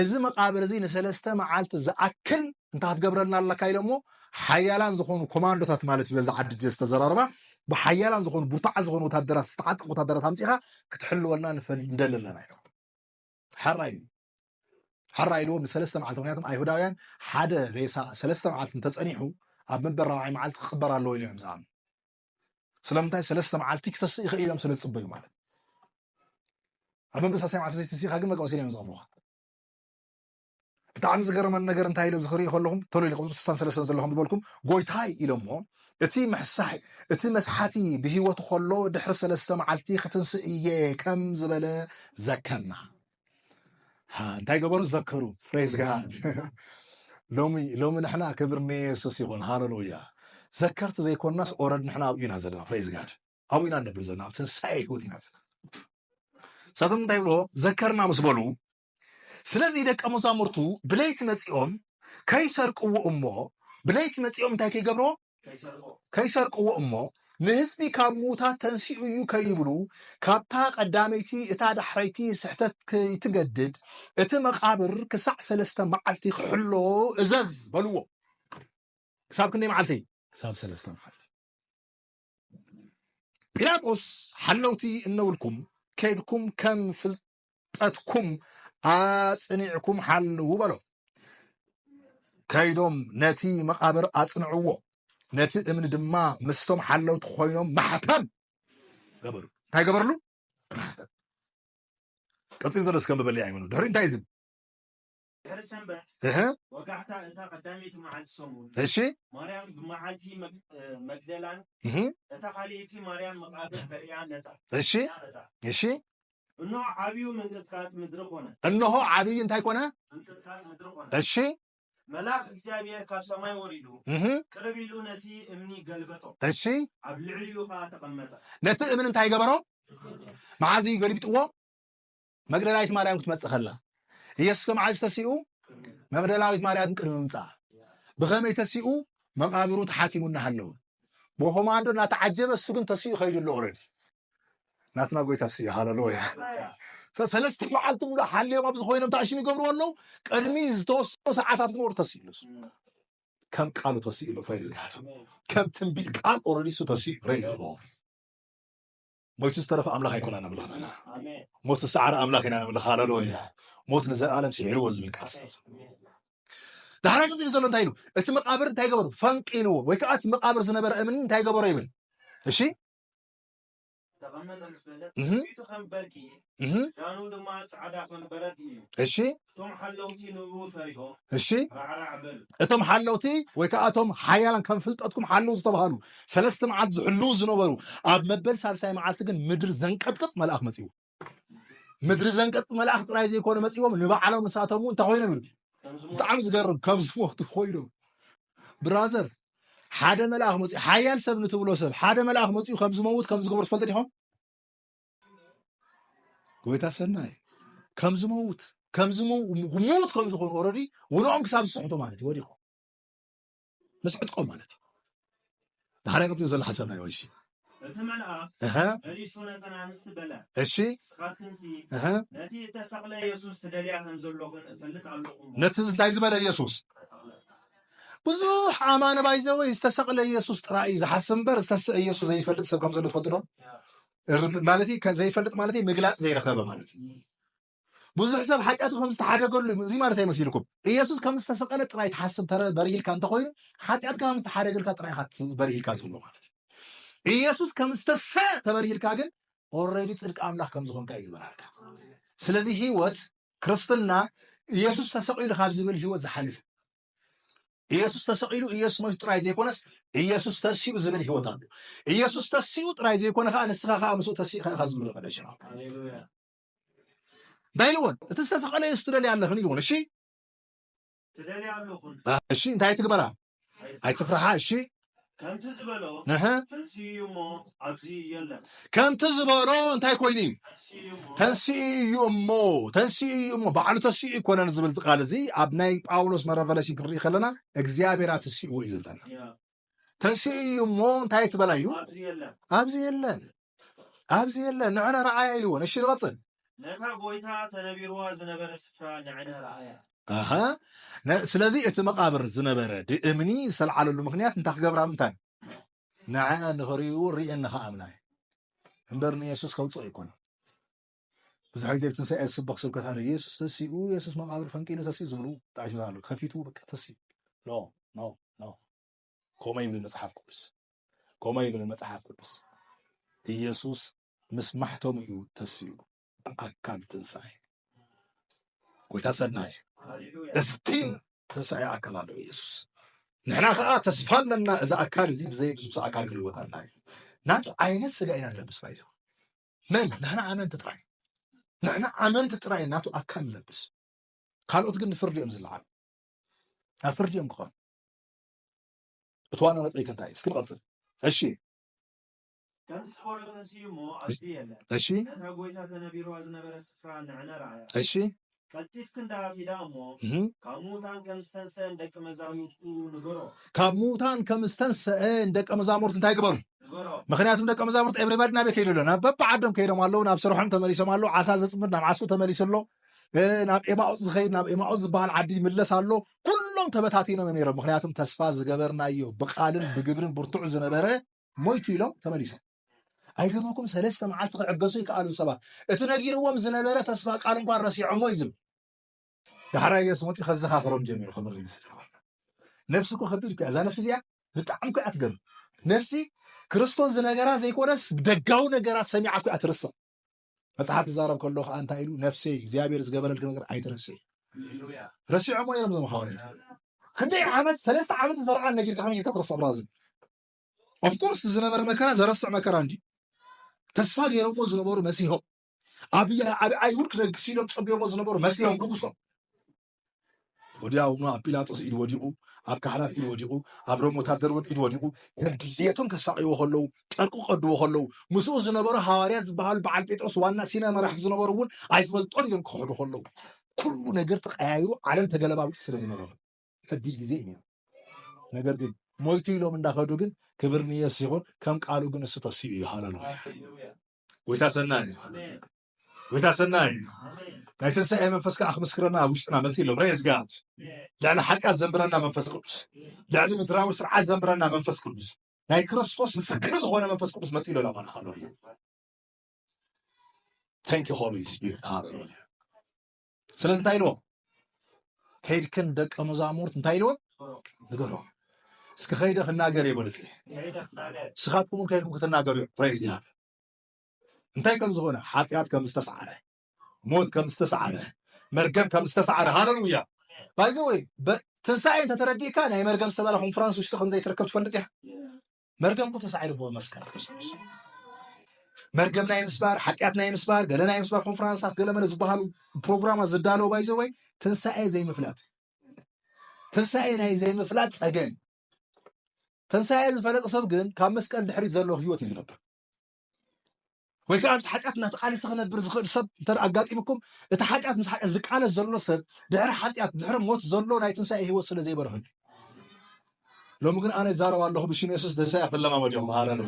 እዚ መቃብር እዚ ንሰለስተ መዓልቲ ዝኣክል እንታይ ክትገብረልና ኣለካ ኢሎሞ ሓያላን ዝኾኑ ኮማንዶታት ማለት እዩ በዛ ዓዲ ዝተዘራረባ ብሓያላን ዝኾኑ ብርቱዓት ዝኾኑ ወታደራት ዝተዓጠቁ ወታደራት ኣምፂኻ ክትሕልወልና ንደሊ ኣለና ኢሎም ሕራይ ሕራ ኢልዎም ንሰለስተ መዓልቲ ምክንያቱም ኣይሁዳውያን ሓደ ሬሳ ሰለስተ መዓልቲ እንተፀኒሑ ኣብ መበል ራብዓይ መዓልቲ ክቅበር ኣለዎ ኢሎም እዮም ዝኣምኑ ስለምንታይ ሰለስተ መዓልቲ ክተስእ ይኽእል ኢሎም ስለ ዝፅበዩ ማለት ኣብ መበሳሰያ መዓልቲ ዘይተሲእካ ግን መቀወሲና እዮም ዝቀብሩካ ብጣዕሚ ዝገረመኒ ነገር እንታይ ኢለ ዝክርኢ ከለኹም ተሎ ኢለ ቁፅሪ ስሳን ሰለስተን ዘለኹም ዝበልኩም ጎይታይ ኢሎሞ እቲ መሕሳሒ እቲ መስሓቲ ብሂወቱ ከሎ ድሕሪ ሰለስተ መዓልቲ ክትንስእ እየ ከም ዝበለ ዘከርና እንታይ ገበሩ ዘከሩ ፍሬዝ ጋድ ሎሚ ሎሚ ንሕና ክብር ንየሱስ ይኹን ሃለሉያ ዘከርቲ ዘይኮናስ ኦረድ ንሕና ኣብኡ ኢና ዘለና ፍሬዝ ጋድ ኣብኡ ኢና ንነብር ዘለና ኣብ ትንሳኤ ህይወት ኢና ዘለና እሳቶም እንታይ ብሎ ዘከርና ምስ በሉ ስለዚ ደቀ መዛሙርቱ ብለይቲ መጺኦም ከይሰርቅዎ እሞ ብለይቲ መጺኦም እንታይ ከይገብርዎ ከይሰርቅዎ እሞ ንህዝቢ ካብ ምዉታት ተንሲኡ እዩ ከይብሉ ካብታ ቀዳመይቲ እታ ዳሕረይቲ ስሕተት ከይትገድድ እቲ መቃብር ክሳዕ ሰለስተ መዓልቲ ክሕሎ እዘዝ በልዎ ክሳብ ክንደይ መዓልቲ ክሳብ ሰለስተ መዓልቲ ጲላጦስ ሓለውቲ እነብልኩም ከድኩም ከም ዕጥቀትኩም ኣጽኒዕኩም ሓልዉ በሎም። ከይዶም ነቲ መቓብር ኣጽንዕዎ፣ ነቲ እምኒ ድማ ምስቶም ሓለውቲ ኮይኖም ማሕተም ገበሩ። እንታይ ገበርሉ? ማሕተም። ቀጺሉ ዘሎ እስከ ምበሊ ኣይመኑ ድሕሪ እንታይ ዝብል እህ እሺ እሺ እሺ እነሆ ዓብዩ ምንቅጥቃጥ ምድሪ ኮነ። እነሆ ዓብይ እንታይ ኮነ? ምንቅጥቃጥ ምድሪ ኮነ። እሺ መልኣኽ እግዚኣብሔር ካብ ሰማይ ወሪዱ ቅርብ ኢሉ ነቲ እምኒ ገልበጦ። እሺ ኣብ ልዕሊኡ ከዓ ተቐመጠ። ነቲ እምኒ እንታይ ገበሮ? መዓዚ ገልቢጥዎ? መግደላዊት ማርያም ክትመጽእ ከላ ኢየሱስ ከመዓዝ ተሲኡ መግደላዊት ማርያም ቅድሚ ምምጻኣ ብኸመይ ተሲኡ መቃብሩ ተሓቲሙ እናሃለወ ብኮማንዶ እናተዓጀበ እሱ ግን ተሲኡ ከይዱ ኣሎ ኦረዲ ናትና ጎይታ ስዩ ሃለሎያ ሰለስተ መዓልቲ ሙሉ ሓልዮም ኣብዚ ኮይኖም ተኣሽሙ ይገብርዎ ኣለዉ ቅድሚ ዝተወሰኑ ሰዓታት ግን ወር ተሲኡ ኣለሱ ከም ቃሉ ተሲኡ ኣሎ ከም ትንቢት ቃል ኦረዲ እሱ ተሲኡ ረይዎ ሞይቱ ዝተረፈ ኣምላኽ ኣይኮና ነምልኽ ዘለና ሞት ዝሰዓረ ኣምላኽ ኢና ነምልኽ ሃለሎያ ሞት ንዘለኣለም ስዒርዎ ዝብል ቃል ዳሕራ ቀፂሉ ዘሎ እንታይ ኢሉ እቲ መቃብር እንታይ ገበሩ ፈንቂልዎ ወይ ከዓ እቲ መቃብር ዝነበረ እምኒ እንታይ ገበሮ ይብል እሺ ክዳኑ ድማ ጻዕዳ ከም በረድ እዩ እሺ እቶም ሓለውቲ ንኡ ፈሪሆም እሺ ራዕራዕ በሉ እቶም ሓለውቲ ወይ ከዓ እቶም ሓያላን ከም ፍልጠትኩም ሓለው ዝተባሃሉ ሰለስተ መዓልቲ ዝሕልው ዝነበሩ ኣብ መበል ሳልሳይ መዓልቲ ግን ምድሪ ዘንቀጥቅጥ መልኣኽ መፅኡ ምድሪ ዘንቀጥቅጥ መልኣኽ ጥራይ ዘይኮነ መፅዎም ንባዕሎም ንሳቶም እንታይ ኮይኖም ይብል ብጣዕሚ ዝገርም ከም ዝሞቱ ኮይኖም ብራዘር ሓደ መልኣኽ መፅኡ ሓያል ሰብ ንትብሎ ሰብ ሓደ መልኣኽ መፅኡ ከም ዝመውት ከም ዝግብር ትፈልጡ ዲኹም ጎይታ ሰናይ ከም ዝመውት ከም ዝሙት ከም ዝኾኑ ኦረዲ ውንኦም ክሳብ ዝስሕቶ ማለት እዩ ወዲቆም ምስ ዕጥቆም ማለት እዩ ዳሓራይ ቀፂሉ ዘሎ ሓሳብ ናይ ወይሲ እቲ መልኣኽ መሊሱ ነተን ኣንስቲ በለ እሺ ንስኻትክንሲ ነቲ እተሰቕለ የሱስ ትደልያ ከም ዘለኹን እፈልጥ ኣለኹ ነቲ እንታይ ዝበለ የሱስ ብዙሕ ኣማኒ ባይዘወይ ዝተሰቕለ የሱስ ጥራይ እዩ ዝሓስብ እምበር ዝተስዐ የሱስ ዘይፈልጥ ሰብ ከም ዘሎ ትፈልጥዶ ማለት ዘይፈልጥ ማለት ምግላፅ ዘይረኸበ ማለት እዩ ብዙሕ ሰብ ሓጢኣቱ ከም ዝተሓደገሉ እዚ ማለት ኣይመሲልኩም ኢየሱስ ከም ዝተሰቀለ ጥራይ ትሓስብ ተረ በሪህልካ እንተኮይኑ ሓጢኣትካ ከም ዝተሓደገልካ ጥራይ በሪህልካ ዘሎ ማለት እዩ ኢየሱስ ከም ዝተሰ ተበሪህልካ ግን ኦልሬዲ ፅድቂ ኣምላኽ ከም ዝኾንካ እዩ ዝበራልካ ስለዚ ህይወት ክርስትና ኢየሱስ ተሰቂሉ ካብ ዝብል ህይወት ዝሓልፍ ኢየሱስ ተሰቒሉ ኢየሱስ ሞይቱ ጥራይ ዘይኮነስ ኢየሱስ ተሲኡ ዝብል ህይወት ኣሎ። ኢየሱስ ተሲኡ ጥራይ ዘይኮነ ከዓ ንስኻ ከዓ ምስኡ ተሲእኻ ኢኻ ዝምሎ ቀደሽ እንታይ ኢልዎን እቲ ዝተሰቐለ ኢየሱስ ትደልያ ኣለኽን ኢልዎን እሺ እሺ እንታይ ትግበራ ኣይትፍርሓ እሺ ከምቲ ዝበሎ እንታይ ኮይኑ እዩ ተንስኢ እዩ እሞ ተንስኢ እዩ እሞ ባዕሉ ተስኢ ይኮነን ዝብል ቃል እዚ ኣብ ናይ ጳውሎስ መረቨለሽን ክንርኢ ከለና እግዚኣብሔር ኣተስእዎ እዩ ዝብለና ተንስኢ እዩ እሞ እንታይ ትበላ እዩ ኣብዚ የለን ኣብዚ የለ ንዕነ ረኣያ ኢልዎን እሺ ንቐጽል ነታ ጎይታ ተነቢርዋ ዝነበረ ስፍራ ንዕነ ረኣያ ስለዚ እቲ መቃብር ዝነበረ እምኒ ዝተልዓለሉ ምክንያት እንታይ ክገብራ ምንታይ ንዐ ንክርእዩ ርእየን ንክኣምና እዩ እምበር ንየሱስ ከውፅኦ ይኮነ ብዙሕ ግዜ ብትንሳኤ ዝስበኽ ስብከት ኣሎ የሱስ ተሲኡ የሱስ መቃብር ፈንቂሉ ተሲኡ ዝብሉ ጣዕሽታት ኣሎ ከፊቱ በቃ ተሲኡ ኖ ኖ ኖ ከምኡ ይብል መጽሓፍ ቅዱስ ከምኡ ይብል መጽሓፍ ቅዱስ ኢየሱስ ምስ ማሕተሙ እዩ ተሲኡ ብኣካል ትንሣኤ ጎይታ ሰናይ እስቲን ትንሣኤ ኣካል ኣሎ ኢየሱስ ንሕና ከዓ ተስፋ ኣለና እዚ ኣካል እዚ ብዘይ ብዙ ኣካል ክንልወት ኣላ እዩ ናቱ ዓይነት ስጋ ኢና ንለብስ ባይዘ መን ንሕና ኣመንቲ ጥራይ ንሕና ኣመንቲ ጥራይ ናቱ ኣካል ንለብስ ካልኦት ግን ንፍርዲ እዮም ዝለዓሉ ናብ ፍርዲ እዮም ክኾኑ እቲ ዋና ነጥቢ ከ እንታይ እዩ? እስኪ ንቐፅል። እሺ ከምቲ ዝፈሎ ተንስኡ እሞ ኣብቲ የለ እሺ ነታ ጎይታ ተነቢርዋ ዝነበረ ስፍራ ንዕነ ረኣያ። እሺ ቀልጢፍ ክንዳ ኪዳ እሞ እህ፣ ካብ ምዉታን ከም ዝተንስአ ንደቂ መዛሙርቱ ንገሮ ካብ ምዉታን ከም ዝተንስአ ንደቀ መዛሙርት እንታይ ግበሩ? ንገሮ ምክንያቱም ደቀ መዛሙርት ኤብሪባዲ ናበይ ከይዱ ኣሎ ናብ በብዓዶም ከይዶም ኣለዉ ናብ ስርሖም ተመሊሶም ኣለዉ ዓሳ ዘፅምድ ናብ ዓሱ ተመሊሱ ኣሎ እ፣ ናብ ኤማኦፅ ዝኸይድ ናብ ኤማኦፅ ዝበሃል ዓዲ ይምለስ ኣሎ ኩሎም ተበታቲኖም እዮም ነይሮም። ምክንያቱም ተስፋ ዝገበርናዮ ብቃልን ብግብርን ብርቱዕ ዝነበረ ሞይቱ ኢሎም ተመሊሶም። ኣይገርመኩም ሰለስተ መዓልቲ ክዕገሱ ይከኣሉ ሰባት እቲ ነጊርዎም ዝነበረ ተስፋ ቃል እንኳን ረሲዖሞ እዩ ዝብል ዳሕራይ የሱ መፅኡ ከዘኻኽሮም ጀሚሩ ክብር ንሱ ነፍሲ እኮ ከቢድ እኮ እዛ ነፍሲ እዚኣ ብጣዕሚ እኮ ኣትገርም ነፍሲ ክርስቶስ ዝነገራ ዘይኮነስ ደጋዊ ነገራት ሰሚዓ እኮ እያ ትርስቕ መጽሓፍ ክዛረብ ከሎ ከዓ እንታይ ኢሉ ነፍሰይ እግዚኣብሔር ዝገበረልክ ነገር ኣይትረስዕ ረሲዖሞ ነይሮም ዞም ሃዋርያት ክንደይ ዓመት ሰለስተ ዓመት ዝፈርዓ ነጊርካ ከመይ ጌርካ ትረስዕ ብራዝል ኦፍኮርስ ዝነበረ መከራ ዘረስዕ መከራ እንዲ ተስፋ ገይሮሞ ዝነበሩ መሲሆም ኣብ ኣይሁድ ክነግስ ኢሎም ፀቢዮሞ ዝነበሩ መሲሆም ንጉሶም ወዲያውኑ ኣብ ጲላጦስ ኢድ ወዲቑ ኣብ ካህናት ኢድ ወዲቑ ኣብ ሮም ወታደር እውን ኢድ ወዲቑ ከም ድልየቶም ከሳቅይዎ ከለዉ ጨርቁ ቀድዎ ከለዉ ምስኡ ዝነበሩ ሃዋርያት ዝበሃሉ በዓል ጴጥሮስ ዋና ሲነ መራሕቲ ዝነበሩ እውን ኣይፈልጦን ኢሎም ክኸዱ ከለዉ ኩሉ ነገር ተቀያይሩ ዓለም ተገለባቢጡ ስለ ዝነበረ ከቢድ ግዜ እዩ ነይሩ ነገር ግን ሞይቱ ኢሎም እንዳኸዱ ግን ክብር ንየስ ይኹን ከም ቃሉ ግን እሱ ተሲኡ እዩ ሃለሉያ ጎይታ ሰናይ ጎይታ ሰናይ እዩ ናይ ትንሳኤ መንፈስ ከዓ ክምስክረና ኣብ ውሽጥና መፅ ኣሎ ሬስ ጋድ ልዕሊ ሓጢኣት ዘንብረና መንፈስ ቅዱስ ልዕሊ ምድራዊ ስርዓት ዘንብረና መንፈስ ቅዱስ ናይ ክርስቶስ ምስክር ዝኾነ መንፈስ ቅዱስ መፅ ኣሎ ለማና ሃሎሉያ ታንኪ ሆሊ ስፒሪት ሃሎሉያ ስለዚ እንታይ ኢልዎም ከይድክን ደቀ መዛሙርት እንታይ ኢልዎም ንገሮም እስኪ ከይደ ክናገር የበሉ እስኪ ንስኻትኩም እውን ከይድኩም ክትናገሩ እዩ ሬስ ጋድ እንታይ ከም ዝኾነ፣ ሓጢኣት ከም ዝተስዓረ፣ ሞት ከም ዝተስዓረ፣ መርገም ከም ዝተስዓረ፣ ሃለሉያ ባይ ዘ ወይ ትንሳኤ እንተተረዲእካ ናይ መርገም ሰበራ ኮንፈረንስ ውሽጢ ከም ዘይትረከብ ትፈልጥ ኢኻ። መርገም ኩ ተሳዒሩ ብኡ መስቀል ክርስቶስ መርገም ናይ ምስባር ሓጢኣት ናይ ምስባር ገለ ናይ ምስባር ኮንፈረንሳት ገለ መለ ዝበሃሉ ፕሮግራማት ዝዳለዎ ባይ ዘ ወይ ትንሳኤ ዘይምፍላጥ ትንሳኤ ናይ ዘይምፍላጥ ጸገም ትንሳኤ ዝፈለጠ ሰብ ግን ካብ መስቀል ድሕሪት ዘሎ ህይወት እዩ ዝነብር ወይ ከዓ ምስ ሓጢኣት እናተቃለሰ ክነብር ዝኽእል ሰብ እንተ ኣጋጢምኩም እቲ ሓጢኣት ምስ ሓጢኣት ዝቃለስ ዘሎ ሰብ ድሕሪ ሓጢኣት ድሕሪ ሞት ዘሎ ናይ ትንሳኤ ህይወት ስለ ዘይበርህሉ ሎሚ ግን ኣነ ዛረብ ኣለኹ ብሽም የሱስ ትንሳኤ ክለማመድ ኢኹም ሃረር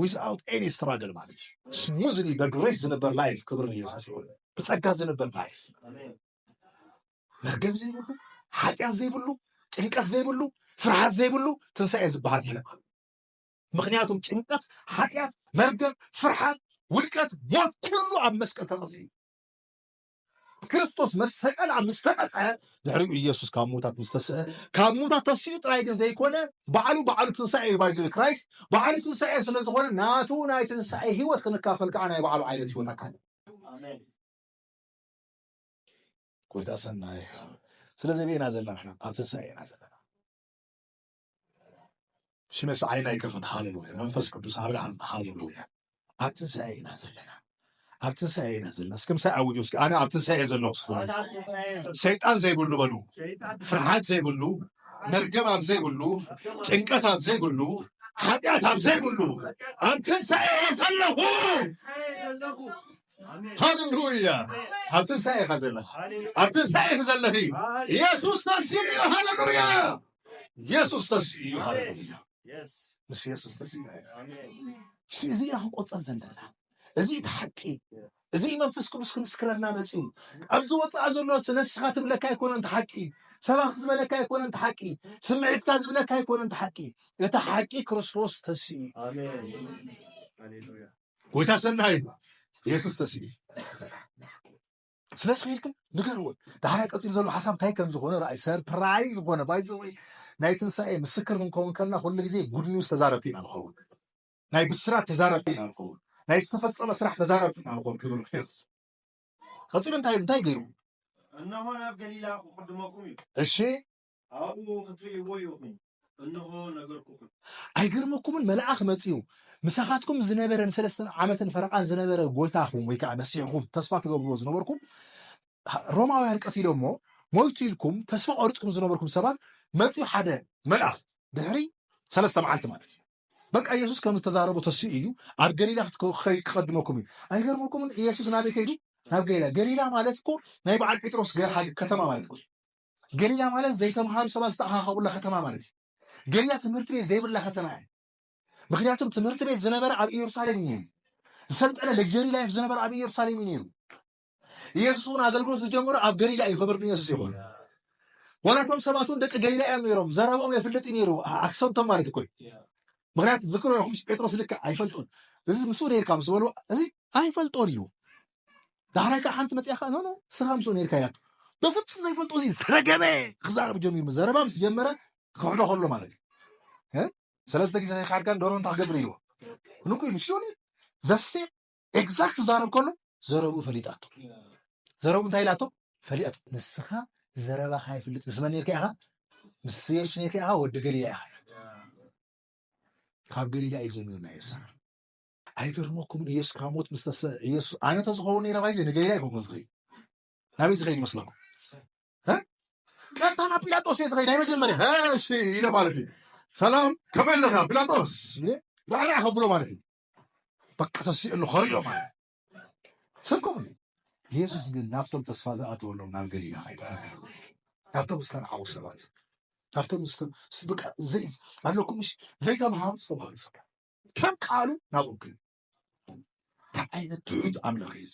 ዊዝኣውት ኤኒ ስትራግል ማለት እዩ ስሙዝሊ በግሬስ ዝነበር ላይፍ ክብሪ ንየሱስ ይኹን ብፀጋ ዝነበር ላይፍ መርገም ዘይብሉ ሓጢኣት ዘይብሉ ጭንቀት ዘይብሉ ፍርሃት ዘይብሉ ትንሳኤ ዝበሃል ሕነ ምክንያቱም ጭንቀት፣ ሓጢኣት፣ መርገም፣ ፍርሓት፣ ውድቀት፣ ሞት ኩሉ ኣብ መስቀል ተቐጺዑ እዩ። ክርስቶስ መሰቀል ኣብ ምስ ተቐጽዐ ድሕሪኡ ኢየሱስ ካብ ሙታት ምስ ተስአ ካብ ሙታት ተሲኡ ጥራይ ግን ዘይኮነ ባዕሉ ባዕሉ ትንሳኤ እዩ ባይዘ ክራይስት ባዕሉ ትንሳኤ ስለ ዝኾነ ናቱ ናይ ትንሳኤ ህይወት ክንካፈል ከዓ ናይ ባዕሉ ዓይነት ህይወት ኣካል ጎይታ ሰናይ ስለዚ ኣበይ ኢና ዘለና ንሕና ኣብ ትንሳኤ ኢና ዘለና ሽመስ ዓይና ይከፈት ሃሌሉያ መንፈስ ቅዱስ ኣብርሃም ሃሌሉያ ኣብ ትንሳኤ ኢና ዘለና ኣብ ትንሳኤ ኢና ዘለና እስከ ምሳይ ኣውጁ እስከ ኣነ ኣብ ትንሳኤ ዘሎ ሰይጣን ዘይብሉ በሉ ፍርሓት ዘይብሉ መርገም ኣብ ዘይብሉ ጭንቀት ኣብ ዘይብሉ ሓጢኣት ኣብ ዘይብሉ ኣብ ትንሳኤ እየ ዘለኹ ሃሌሉያ ኣብ ትንሳኤ ኢኻ ዘለኻ ኣብ ትንሳኤ ዘለኺ ኢየሱስ ተንሲኡ ሃሌሉያ የሱስ ተስ እዩ ሃለሉያ ምስ የሱስ ተስ እዚ ኢና ክንቆፀር ዘለና እዚ እቲ ሓቂ እዚ መንፈስ ቅዱስ ክምስክረና መፅኡ ኣብዚ ወፃኢ ዘሎ ነፍስኻ ትብለካ ኣይኮነን እቲ ሓቂ ሰባኺ ዝበለካ ኣይኮነን እቲ ሓቂ ስምዒትካ ዝብለካ ኣይኮነን እቲ ሓቂ እቲ ሓቂ ክርስቶስ ተስ እዩ ጎይታ ሰናይ የሱስ ተስ እዩ ስለዚ ከይድክን ንገርዎን ዳሕራይ ቀፂሉ ዘሎ ሓሳብ እንታይ ከም ዝኾነ ርኣይ ሰርፕራይዝ ዝኾነ ባይዘወ ናይ ትንሳኤ ምስክር ክንከውን ከለና ኩሉ ግዜ ጉድ ኒውስ ተዛረብቲ ኢና ንኸውን ናይ ብስራት ተዛረብቲ ኢና ንኸውን ናይ ዝተፈፀመ ስራሕ ተዛረብቲ ኢና ንኸውን ክብል የሱስ ቀፂሉ እንታይ እንታይ ገይሩ እነሆ ናብ ገሊላ ክቅድመኩም እዩ እሺ ኣብኡ ኽትርእይዎ ኢኹም፣ እንሆ፣ ነገርኩኹም። ኣይገርመኩምን? መልኣኽ መጺኡ ምሳኻትኩም ዝነበረ ንሰለስተ ዓመትን ፈረቓን ዝነበረ ጎይታኹም ወይ ከዓ መሲሕኹም ተስፋ ትገብርዎ ዝነበርኩም ሮማውያን ቀቲሎሞ ሞይቱ ኢልኩም ተስፋ ቆሪፅኩም ዝነበርኩም ሰባት መፂኡ ሓደ መልኣኽ ድሕሪ ሰለስተ መዓልቲ ማለት እዩ በቃ ኢየሱስ ከም ዝተዛረቦ ተስኡ እዩ ኣብ ገሊላ ክትከይ ክቀድመኩም እዩ ኣይገርመኩምን ኢየሱስ ናበይ ከይዱ ናብ ገሊላ ገሊላ ማለት እኮ ናይ በዓል ጴጥሮስ ገርሃ ከተማ ማለት እኮ ገርያ ማለት ዘይተምሃሩ ሰባት ዝተኣኻኸቡላ ከተማ ማለት እዩ። ገርያ ትምህርቲ ቤት ዘይብላ ከተማ እያ። ምክንያቱም ትምህርቲ ቤት ዝነበረ ኣብ ኢየሩሳሌም እዩ ነይሩ። ዝሰልጠነ ለግጀሪ ላይፍ ዝነበረ ኣብ ኢየሩሳሌም እዩ ነይሩ። ኢየሱስ እውን ኣገልግሎት ዝጀመሩ ኣብ ገሊላ እዩ። ክብር ንኢየሱስ ይኹን። ዋላቶም ሰባት እውን ደቂ ገሊላ እዮም ነይሮም። ዘረብኦም የፍልጥ ነይሩ። ኣክሰንቶም ማለት እኮ ምክንያቱ ዝክሮ ይኹምስ ጴጥሮስ ልክዕ ኣይፈልጡን እዚ ምስኡ ነይርካ ምስ በልዎ እዚ ኣይፈልጦን ኢሉ ዳሕራይ ከዓ ሓንቲ መፅያ ከዓ ኖኖ ስራ ምስኦ ነርካ ኢላቶ በፍፁም ዘይፈልጦ እዚ ዝተረገመ ክዛረብ ጀሚሩ ዘረባ ምስ ጀመረ ክሕዶ ከሎ ማለት እዩ ሰለስተ ግዜ ከይካድካን ዶሮ እንታይ ክገብር ኢልዎ ንኩ ኢሉ ሲዮኒ ዘሴ ኤግዛክት ዛረብ ከሎ ዘረብኡ ፈሊጣቶ ዘረቡ እንታይ ኢላቶ ፈሊጣቶ ንስኻ ዘረባ ካይፍልጥ ምስ መን ነርካ ኢኻ ምስ የሱስ ነርካ ኢኻ ወዲ ገሊላ ኢኻ ካብ ገሊላ እዩ ጀሚሩ ናይ የሳ ኣይገርመኩምን ኢየሱስ ካብ ሞት ምስ ተስፈ ኢየሱስ ኣነ ተዝኸውን ነይረ ባይዘ ንገይዳ ይኸውን ዝኸይድ ናበይ ዝኸይድ ይመስለኩም ቀጥታ ናብ ጲላጦስ እየ ዝኸይድ ናይ መጀመርያ እሺ ኢለ ማለት እዩ ሰላም ከመይ ኣለካ ጲላጦስ ራዕራዕ ከብሎ ማለት እዩ በቃ ተሲእሉ ከሪኦ ማለት ሰብከም ኢየሱስ ግን ናብቶም ተስፋ ዝኣተወሎም ናብ ገሊላ ከይዳ ናብቶም ዝተረዓቡ ሰባት ናብቶም በቃ ኣለኩምሽ ነይታ መሃም ዝተባሃሉ ሰባት ከም ቃሉ ናብኦም ክልል እንታይ ዓይነት ትሑት ኣምላኽ እዩ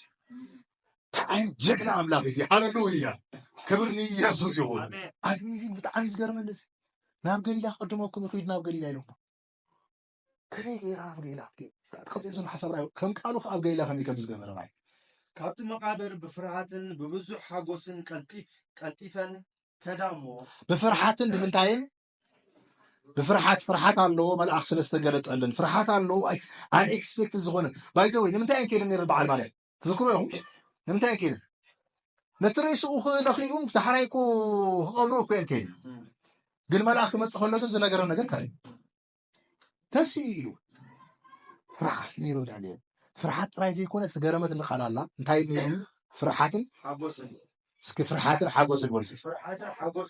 እንታይ ዓይነት ጀግና ኣምላኽ እዩ ሃለሉያ ክብር ንኢየሱስ ይኹን ኣብዚ እዚ ብጣዕሚ ዝገርመኒ እዚ ናብ ገሊላ ክቅድመኩም ይኽዱ ናብ ገሊላ ኢሎም ከመይ ገይራ ናብ ገሊላ ክትከፍእ ዘሎ ሓሳብ ራእዩ ከም ቃሉ ከዓ ኣብ ገሊላ ከመይ ከም ዝገበረ ራእዩ ካብቲ መቃብር ብፍርሃትን ብብዙሕ ሓጎስን ቀልጢፍ ቀልጢፈን ከዳ እሞ ብፍርሃትን ብምንታይን ብፍርሓት ፍርሓት ኣለዎ መልኣኽ ስለ ዝተገለጸለን ፍርሓት ኣለዎ ኣይ ኤክስፔክት ዝኾነ ባይዘ ወይ ንምንታይ እየን ከይደን ነረ በዓል ማርያም ትዝክሮ እዮም ንምንታይ እየን ከይደን ነቲ ሬስኡ ክነኽኡን ዳሕራይ እኮ ክቐብሩ እኮ እየን ከይደን ግን መልኣኽ ክመፅእ ከሎ ግን ዝነገረ ነገር ካዩ ተስኢ ኢሉ ፍርሓት ነይሩ ዳንኤል ፍርሓት ጥራይ ዘይኮነ ዝገረመት ንቃል ኣላ እንታይ ነይሩ ፍርሓትን ሓጎስን እስኪ ፍርሓትን ሓጎስን ወልሲ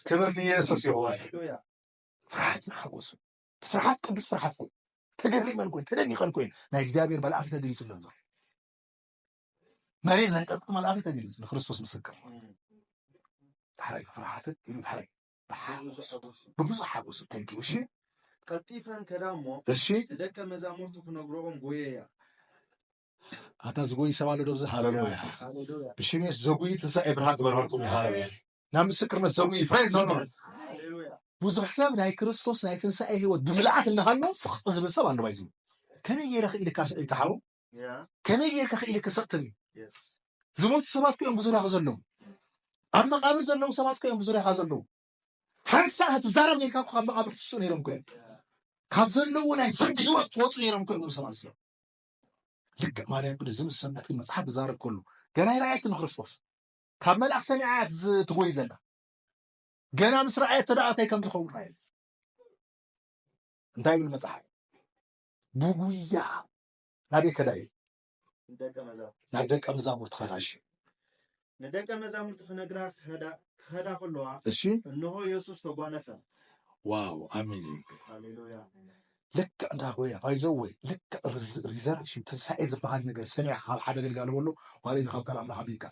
ክብር ንየሱስ ይሆን ፍርሓትን ሓጎስን ፍርሓት ቅዱስ ፍርሓት ኮይ ተገሪመን ኮይን ተደኒቀን ኮይን ናይ እግዚኣብሔር መልኣክ ተገሊጹ ዘሎ መሬት ዘንቀጥጥ መልኣክ ተገሊጹ ንክርስቶስ ምስክር ዳሕራይ ፍርሓትን ኢሉ ዳሕራይ ብሓጎስ ብብዙሕ ሓጎስ እተንኪኡ እሺ ቀልጢፈን ከዳ እሞ እሺ ንደቀ መዛሙርቱ ክነግሮኦም ጎየያ ኣታ ዝጎይ ሰብ ኣሎ ዶብዚ ሃለሉያ ብሽም የሱስ ዘጉይ ትንሳኤ ብርሃን ግበረልኩም ሃለሉያ ናብ ምስክርነት ዘጉይ ፕሬዝ ዘሎ ብዙሕ ሰብ ናይ ክርስቶስ ናይ ትንሳኤ ህይወት ብምልኣት እናሃሎ ስቕ ዝብል ሰብ ኣለዋ እዩ ዝብል ከመይ ገይረ ክኢልካ ስቕ ኢልካ ሓው ከመይ ጌርካ ክኢልካ ሰጥተኒ ዝሞቱ ሰባት ኮይኦም ብዙርያኹ ዘለዉ ኣብ መቃብር ዘለዉ ሰባት ኮይኦም ብዙርያኻ ዘለዉ ሓንሳእ ክትዛረብ ጌርካ ካብ መቃብር ትስኡ ነይሮም ኮይኦም ካብ ዘለዎ ናይ ፍርዲ ህይወት ትወፁ ነይሮም ኮይኖም ሰባት እዚኦም ልክዕ ማርያም ቅዱስ ዝምስ ሰምዕት ግን መፅሓፍ ክዛረብ ከሉ ገና ይረኣየት ንክርስቶስ ካብ መልኣክ ሰሚዓ እያ ትጎይ ዘላ ገና ምስ ረኣየት ተደኣታይ ከም ዝኸውን ረኣየ እንታይ ይብል መፅሓፍ ብጉያ ናበይ ከዳ እዩ ናብ ደቀ መዛሙርቲ ከዳ እሺ ንደቀ መዛሙርቲ ክነግራ ክኸዳ ከለዋ እሺ እንሆ የሱስ ተጓነፈ ዋው ኣሜዚንግ ሃሌሉያ ልክዕ እንዳ ሆያ ባይዘወይ ልክዕ ሪዘረክሽን ትንሳኤ ዝበሃል ነገር ሰሚዕካ ካብ ሓደ ኣገልጋሊ በሎ ዋላ ካብ ካል ኣምላኽ ኣቢልካ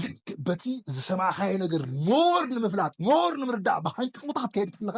ልክዕ በቲ ዝሰማዕካዮ ነገር ሞር ንምፍላጥ ሞር ንምርዳእ ብሃንቀውታ ክትከይድ ከለካ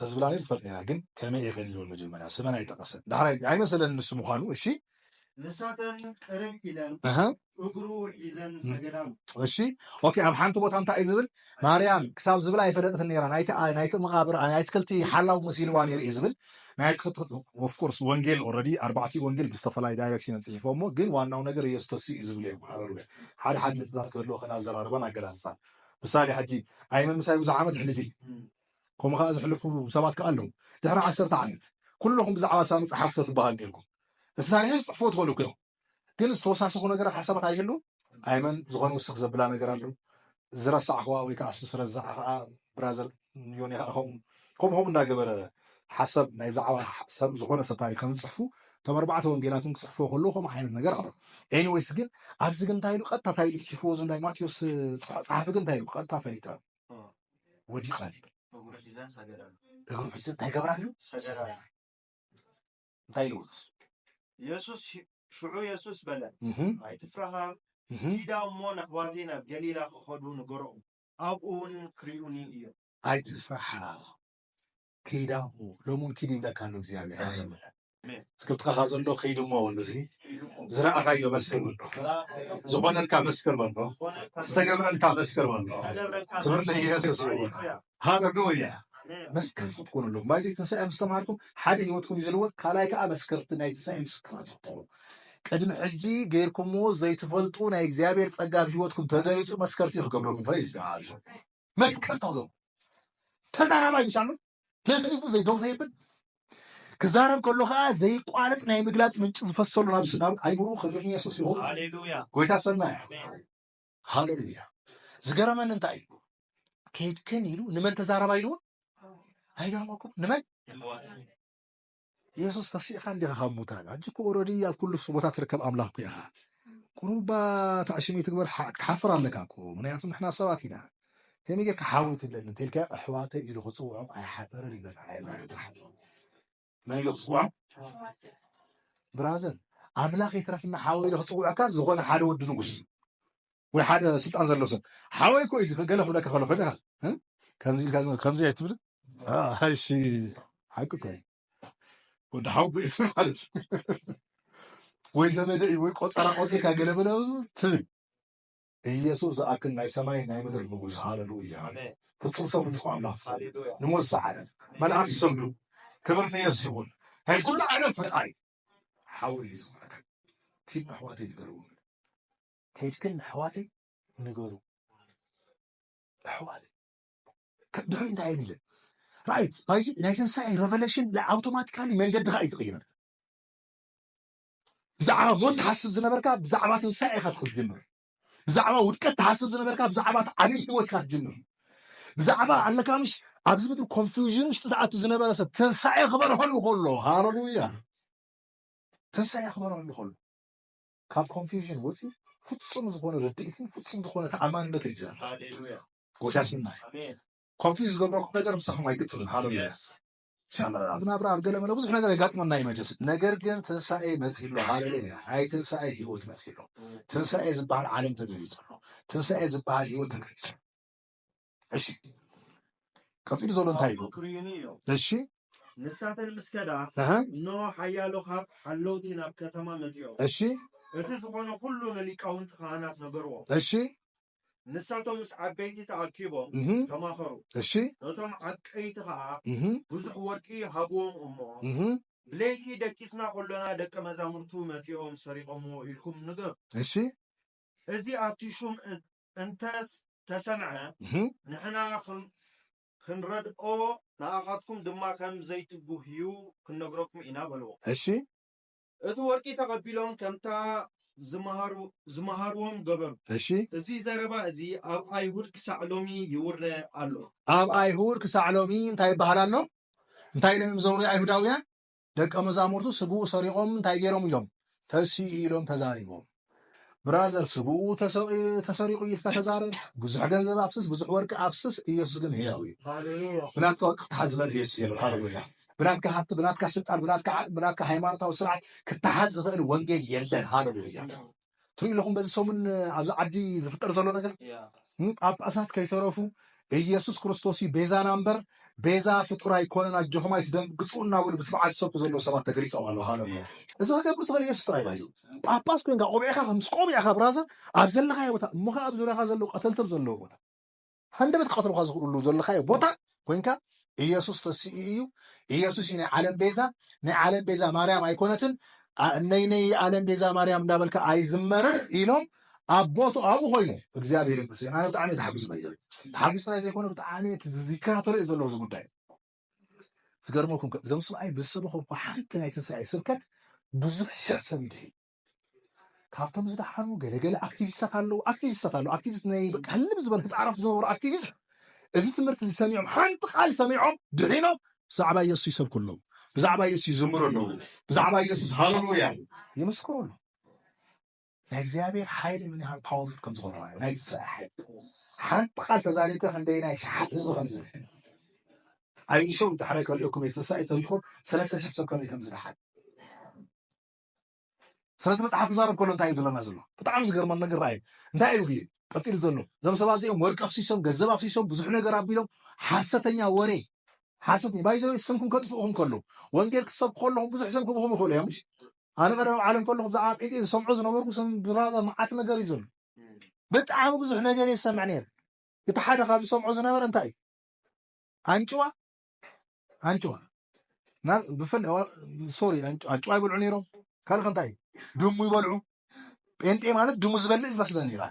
ተዝብላ ነይሩ ትፈልጥ ነይራ ግን ከመይ እየ ከሊልወን መጀመርያ ስመን ኣይጠቀሰን ዳሕራይ ኣይመሰለን ንሱ ምኳኑ እሺ ንሳተን ቅርብ ኢለን እግሩ ሒዘን ሰገዳሉ እሺ ኦኬ ኣብ ሓንቲ ቦታ እንታይ እዩ ዝብል ማርያም ክሳብ ዝብል ኣይፈለጥትን ነይራ ናይቲ መቃብር ናይ ትክልቲ ሓላው መሲልዋ ነይሩ እዩ ዝብል ናይ ትክልቲ ኦፍኮርስ ወንጌል ኦልሬዲ ኣርባዕቲኡ ወንጌል ብዝተፈላለዩ ዳይሬክሽን ፅሒፎሞ ግን ዋናው ነገር ኢየሱስ ተሲ እዩ ዝብል እዮም ሓረሩ ሓደ ሓደ ነጥብታት ክህልዎ ከን ኣዘራርባን ኣገላልፃን ምሳሌ ሕጂ ኣይመምሳይ ብዙሕ ዓመት ሕልፊ ከምኡ ከኣ ዘሕልፉ ሰባት ከኣ ኣለዉ ድሕሪ ዓሰርተ ዓመት ኩሎኹም ብዛዕባ ሳሚ ጸሓፍቶ ትበሃሉ ኔርኩም እቲ ታሪኸይ ክትጽሕፍዎ ትኽእሉ ኢኹም ግን ዝተወሳሰኹ ነገራት ሓሳባት ኣይህሉን ኣይመን ዝኾነ ውስኽ ዘብላ ነገር ኣሎ ዝረሳዕኽዋ ወይ ከኣ ሱስ ረዛዕ ከኣ ብራዘር ዮኒ ከኣ ከምኡ ከምኡ ከምኡ እናገበረ ሓሰብ ናይ ብዛዕባ ሰብ ዝኾነ ሰብ ታሪክ ከም ዝፅሕፉ እቶም ኣርባዕተ ወንጌላት እውን ክፅሕፍዎ ከለዉ ከምኡ ዓይነት ነገር ኣሎ ኤኒዌይስ ግን ኣብዚ ግን እንታይ ኢሉ ቀጥታ እንታይ ኢሉ ፅሒፍዎ ዘሎ ናይ ማቴዎስ ፀሓፊ ግን እንታይ ኢሉ ቀጥታ ፈሊጠ ወዲቀ እግሩ ሒዘ እንታይ ይገብር ኣሎ? እንታይ ኢሉ የሱስ ሽዑ የሱስ በለ ኣይትፍራሃ ኪዳ እሞ ንኣሕዋተይ ናብ ገሊላ ክኸዱ ንገሮም ኣብኡ እውን ክሪኡኒ እዮም። ኣይትፍራሃ ኪዳ እሞ ሎሚ እውን ኪድ ይብለካ ኣሎ እግዚኣብሔር እስከ ጥቃኻ ዘሎ ከይድ እሞ በሎ እዚ ዝረኣኻዮ መስክር በሎ ዝኾነልካ መስክር በሎ ዝተገብረልካ መስክር በሎ ክብር ለኢየሱስ ይሁን ሃሌሉያ መስከርቲ ትኮኑ ኣለኩም ማይ ዘይትንሳኤ ምስ ተማሃርኩም ሓደ ህይወትኩም እዩ ዝልወጥ ካልኣይ ከዓ መስከርቲ ናይ ትንሳኤ ምስክራት ትኾኑ ቅድሚ ሕጂ ገይርኩምዎ ዘይትፈልጡ ናይ እግዚኣብሔር ጸጋ ኣብ ህይወትኩም ተገሊጹ መስከርቲ ክገብረኩም ፈ ይዝጋል መስከርቲ ኣለኩም ተዛራባይ እዩ ሳሉ ተፍሊፉ ዘይደው ዘይብል ክዛረብ ከሎ ከዓ ዘይቋረፅ ናይ ምግላፅ ምንጭ ዝፈሰሉ ናብ ናብ ኣይምሮ ክብሪ ንየሱስ ይኹን ጎይታ ሰና ሃሌሉያ ዝገረመኒ እንታይ እዩ ከይድክን ኢሉ ንመን ተዛረባ ኢልዎ ኣይገርመኩም ንመን የሱስ ተሲእካ እንዲኻ ካብ ሙታን ሕጂ እኮ ኦረዲ ኣብ ኩሉ ቦታ ትርከብ ኣምላኽ እኮ ኢኻ ቁሩባ ተዕሽም ይትግበር ክትሓፍር ኣለካ እኮ ምክንያቱ ንሕና ሰባት ኢና ከመይ ጌርካ ሓወይ ትብለኒ እንተልካ ኣሕዋተይ ኢሉ ክፅውዖም ኣይሓፈረን ይብለካ መን ኢሉ ክፅውዖም ብራዘር ኣምላኽ ይትረፍና ሓወይ ኢሉ ክፅውዐካ ዝኾነ ሓደ ወዲ ንጉስ ወይ ሓደ ስልጣን ዘሎ ሰብ ሓወይ እኮ እዚ ገለ ክብለካ ከሎ ኮይንካ ከምዚ ኢልካ ከምዚ ኣይትብል እሺ ሓቂ እኮ ወዲ ሓው ቤት ማለት ወይ ዘመደ እዩ ወይ ቆፀራ ቆፂርካ ገለ በለ ትብል ኢየሱስ ዝኣክል ናይ ሰማይ ናይ ምድር ንጉስ ሃለሉያ ፍጹም ሰብ ንትኹ ኣምላኽ ንሞት ዝሰዓረ መልኣክ ዝሰግዱ ክብር ንየሱስ ይኹን ናይ ኩሉ ዓለም ፈጣሪ ሓወይ እዩ ዝኮነካ ኪድ ኣሕዋተይ ንገርዎም ከይድክን ነሕዋተይ ንገሩ ኣሕዋተይ ድሕሪ እንታይ እየን ኢለን ራእይ ባይዚ ናይ ትንሳኤ ረቨለሽን ኣውቶማቲካሊ መንገድኻ እዩ ዝቕይረልካ ብዛዕባ ሞት ትሓስብ ዝነበርካ ብዛዕባ ትንሳኤ ኢኻ ትጀምር ብዛዕባ ውድቀት ትሓስብ ዝነበርካ ብዛዕባ እቲ ዓብዪ ህይወት ኢኻ ትጀምር ብዛዕባ ኣለካ ምሽ ኣብዚ ምድሪ ኮንፊውዥን ውሽጢ ዝኣቱ ዝነበረ ሰብ ትንሳኤ ክበርሀሉ ከሎ ሃለሉያ ትንሳኤ ክበርሀሉ ከሎ ካብ ኮንፊውዥን ወፂኡ ፍፁም ዝኾነ ርድኢትን ፍፁም ዝኾነ ተኣማንነትን እዩ ዝረክብ። ጎዳሲና እዩ ኮንፊውዝ ዝገብረኩም ነገር ምሳኹም ኣይቅፅልን። ሃለሉያ ኢንሻላህ። ኣብ ናብራ ኣብ ገለመለ ብዙሕ ነገር የጋጥመና እዩ መጀስ ነገር ግን ትንሳኤ መፅሎ ሃለሉያ። ናይ ትንሳኤ ህይወት መፅሎ ትንሳኤ ዝበሃል ዓለም ተገሊፁ ኣሎ። ትንሳኤ ዝበሃል ህይወት ተገሊፁ እሺ ቀፂሉ ዘሎ እንታይ እዩ ክርዩኒ እዮ እሺ ንሳተን ምስ ከዳ እኖ ሓያሎ ካብ ሓለውቲ ናብ ከተማ መፅኦ እሺ እቲ ዝኾነ ኩሉ ንሊቃውንቲ ካህናት ነገርዎ እሺ ንሳቶም ምስ ዓበይቲ ተኣኪቦም ተማኸሩ እሺ እቶም ዓቀይቲ ከዓ ብዙሕ ወርቂ ሃብዎም እሞ ብለይቲ ደቂስና ከሎና ደቂ መዛሙርቱ መፂኦም ሰሪቆምዎ ኢልኩም ንገር እሺ እዚ ኣብቲ ሹም እንተ ተሰምዐ ንሕና ክንረድኦ ንኣኻትኩም ድማ ከም ዘይትጉህዩ ክንነግረኩም ኢና በልዎ። እሺ። እቲ ወርቂ ተቐቢሎም ከምታ ዝመሃርዎም ገበሩ። እሺ። እዚ ዘረባ እዚ ኣብ ኣይሁድ ክሳዕ ሎሚ ይውረ ኣሎ። ኣብ ኣይሁድ ክሳዕ ሎሚ እንታይ ይበሃል ኣሎ? እንታይ ኢሎም እዮም ዘውርዩ ኣይሁዳውያን? ደቀ መዛሙርቱ ስግኡ ሰሪቆም እንታይ ገይሮም ኢሎም ተሲኡ ኢሎም ተዛሪቦም። ብራዘር ስግኡ ተሰሪቁ ኢልካ ተዛረብ ብዙሕ ገንዘብ ኣፍስስ ብዙሕ ወርቂ ኣፍስስ ኢየሱስ ግን ህያው እዩ ብናትካ ወርቂ ክትሓዝ ዝበል ኢየሱስ የለ ሃሌሉያ ብናትካ ሃብቲ ብናትካ ስልጣን ብናትካ ዓቅሚ ብናትካ ሃይማኖታዊ ስርዓት ክትሓዝ ዝኽእል ወንጌል የለን ሃሌሉያ ትሪኡ ኣለኹም በዚ ሰሙን ኣብዚ ዓዲ ዝፍጠር ዘሎ ነገር ጳጳሳት ከይተረፉ ኢየሱስ ክርስቶስ እዩ ቤዛና እምበር ቤዛ ፍጡር ኣይኮነን ኣጆኹም ኣይትደንግፁ እናበሉ ብትብዓት ዝሰብኩ ዘለዉ ሰባት ተገሊፆም ኣለዉ ሃለ እዚ ክገብር ዝኽእል ኢየሱስ ጥራይ እዩ ጳጳስ ኮይንካ ቆቢዕካ ምስ ቆቢዕካ ብራዘር ኣብ ዘለኻዮ ቦታ እሞ ከዓ ኣብ ዙርያኻ ዘለዉ ቀተልተብ ዘለዉ ቦታ ሃንደበት ክቐትሉኻ ዝኽእሉሉ ዘለኻዮ ቦታ ኮይንካ ኢየሱስ ተሲኡ እዩ፣ ኢየሱስ እዩ ናይ ዓለም ቤዛ፣ ናይ ዓለም ቤዛ ማርያም ኣይኮነትን፣ ነይነይ ዓለም ቤዛ ማርያም እንዳበልካ ኣይዝመርን ኢሎም ኣብ ቦቱ ኣብኡ ኮይኑ እግዚኣብሔር ይመስገን ኣነ ብጣዕሚ ተሓጒሱ ናይ ዘበ ተሓጒሱ ናይ ዘይኮነ ብጣዕሚ ይከታተሎ እዩ ዘለዎ እዚ ጉዳይ ዝገርመኩም እዞም ሰብኣይ ብዝሰበኸምኩ ሓንቲ ናይ ትንሳኤ ስብከት ብዙሕ ሽሕ ሰብ ይድሕዩ ካብቶም ዝደሓኑ ገለገለ ኣክቲቪስታት ኣለዉ ኣክቲቪስታት ኣለዉ ኣክቲቪስት ናይ በቃ ህልም ዝበለ ህፃረፍ ዝነበሩ ኣክቲቪስት እዚ ትምህርቲ እዚ ሰሚዖም ሓንቲ ቃል ሰሚዖም ድሒኖም ብዛዕባ ኢየሱስ ይሰብኩ ኣለዉ ብዛዕባ ኢየሱስ ይዝምሩ ኣለዉ ብዛዕባ ኢየሱስ ሃለሉያ ይምስክሩ ኣለዉ ናይ እግዚኣብሔር ሓይሊ ምን ያህል ፓወርፉል ከም ዝኾነ ዩ ናይ ትንሳኤ ሓይሊ ሓንቲ ቃል ተዛሪብካ ክንደይ ናይ ሸሓት ህዝቢ ከም ዝብል ኣይንሸው ድሕራይ ከልኦኩም የትንሳኤ ተሪኹም ሰለስተ ሽሕ ሰብ ከመይ ከም ዝደሓል ስለቲ መጽሓፍ ክዛረብ ከሎ እንታይ እዩ ዝብለና ዘሎ? ብጣዕሚ ዝገርመን ነገር ረኣዩ። እንታይ እዩ ግን ቀጺሉ ዘሎ? እዞም ሰባት እዚኦም ወርቂ ኣፍሲሶም፣ ገንዘብ ኣፍሲሶም፣ ብዙሕ ነገር ኣቢሎም ሓሰተኛ ወሬ ሓሰተኛ ባይዘወ ስምኩም ከጥፍኡኹም ከሎ ወንጌል ክትሰብኩ ከለኹም ብዙሕ ስም ክብኹም ይኽእሉ እዮም። ኣነ ቀደም ዓለም ከለኹ ብዛዕባ ጴንጤ ዝሰምዖ ዝነበርኩ ስም ብራዛ መዓት ነገር እዩ ዘሎ። ብጣዕሚ ብዙሕ ነገር እየ ዝሰምዕ ነይረ። እቲ ሓደ ካብ ዝሰምዖ ዝነበረ እንታይ እዩ ኣንጭዋ ኣንጭዋ ብፍላይ ሶሪ ኣንጭዋ ይበልዑ ነይሮም ካልእ ከንታይ ድሙ ይበልዑ ጴንጤ ማለት ድሙ ዝበልዕ ዝመስለ ነይራ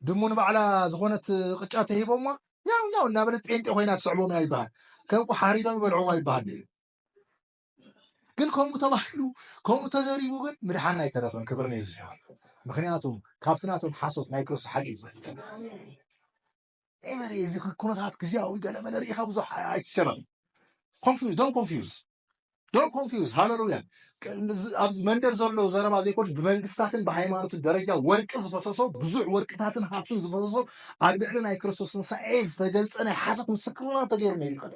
ድሙ ንባዕላ ዝኾነት ቅጫ ተሂቦማ ያው ያው እናበለት ጴንጤ ኮይና ትስዕቦም እያ ይበሃል ከም ሓሪዶም ይበልዕዋ ይበሃል ነይሩ ግን ከምኡ ተባሂሉ ከምኡ ተዘሪቡ ግን ምድሓን ኣይተረፈን ክብሪ ነዚ ምክንያቱም ካብቲ ናቶም ሓሶት ናይ ክርስቶስ ሓቂ ዝበልፅ ኤቨሪ እዚ ኩነታት ግዜያዊ ገለመለ ርኢኻ ብዙሕ ኣይትጨነቕ ኮንፊዝ ዶን ኮንፊዝ ዶን ኮንፊዝ ሃለሉያ ኣብዚ መንደር ዘሎ ዘረባ ዘይኮን ብመንግስታትን ብሃይማኖትን ደረጃ ወርቂ ዝፈሰሶ ብዙሕ ወርቅታትን ሃብትን ዝፈሰሶ ኣብ ልዕሊ ናይ ክርስቶስ ትንሳኤ ዝተገልፀ ናይ ሓሶት ምስክርና ተገይሩ ነይሩ ይኸደ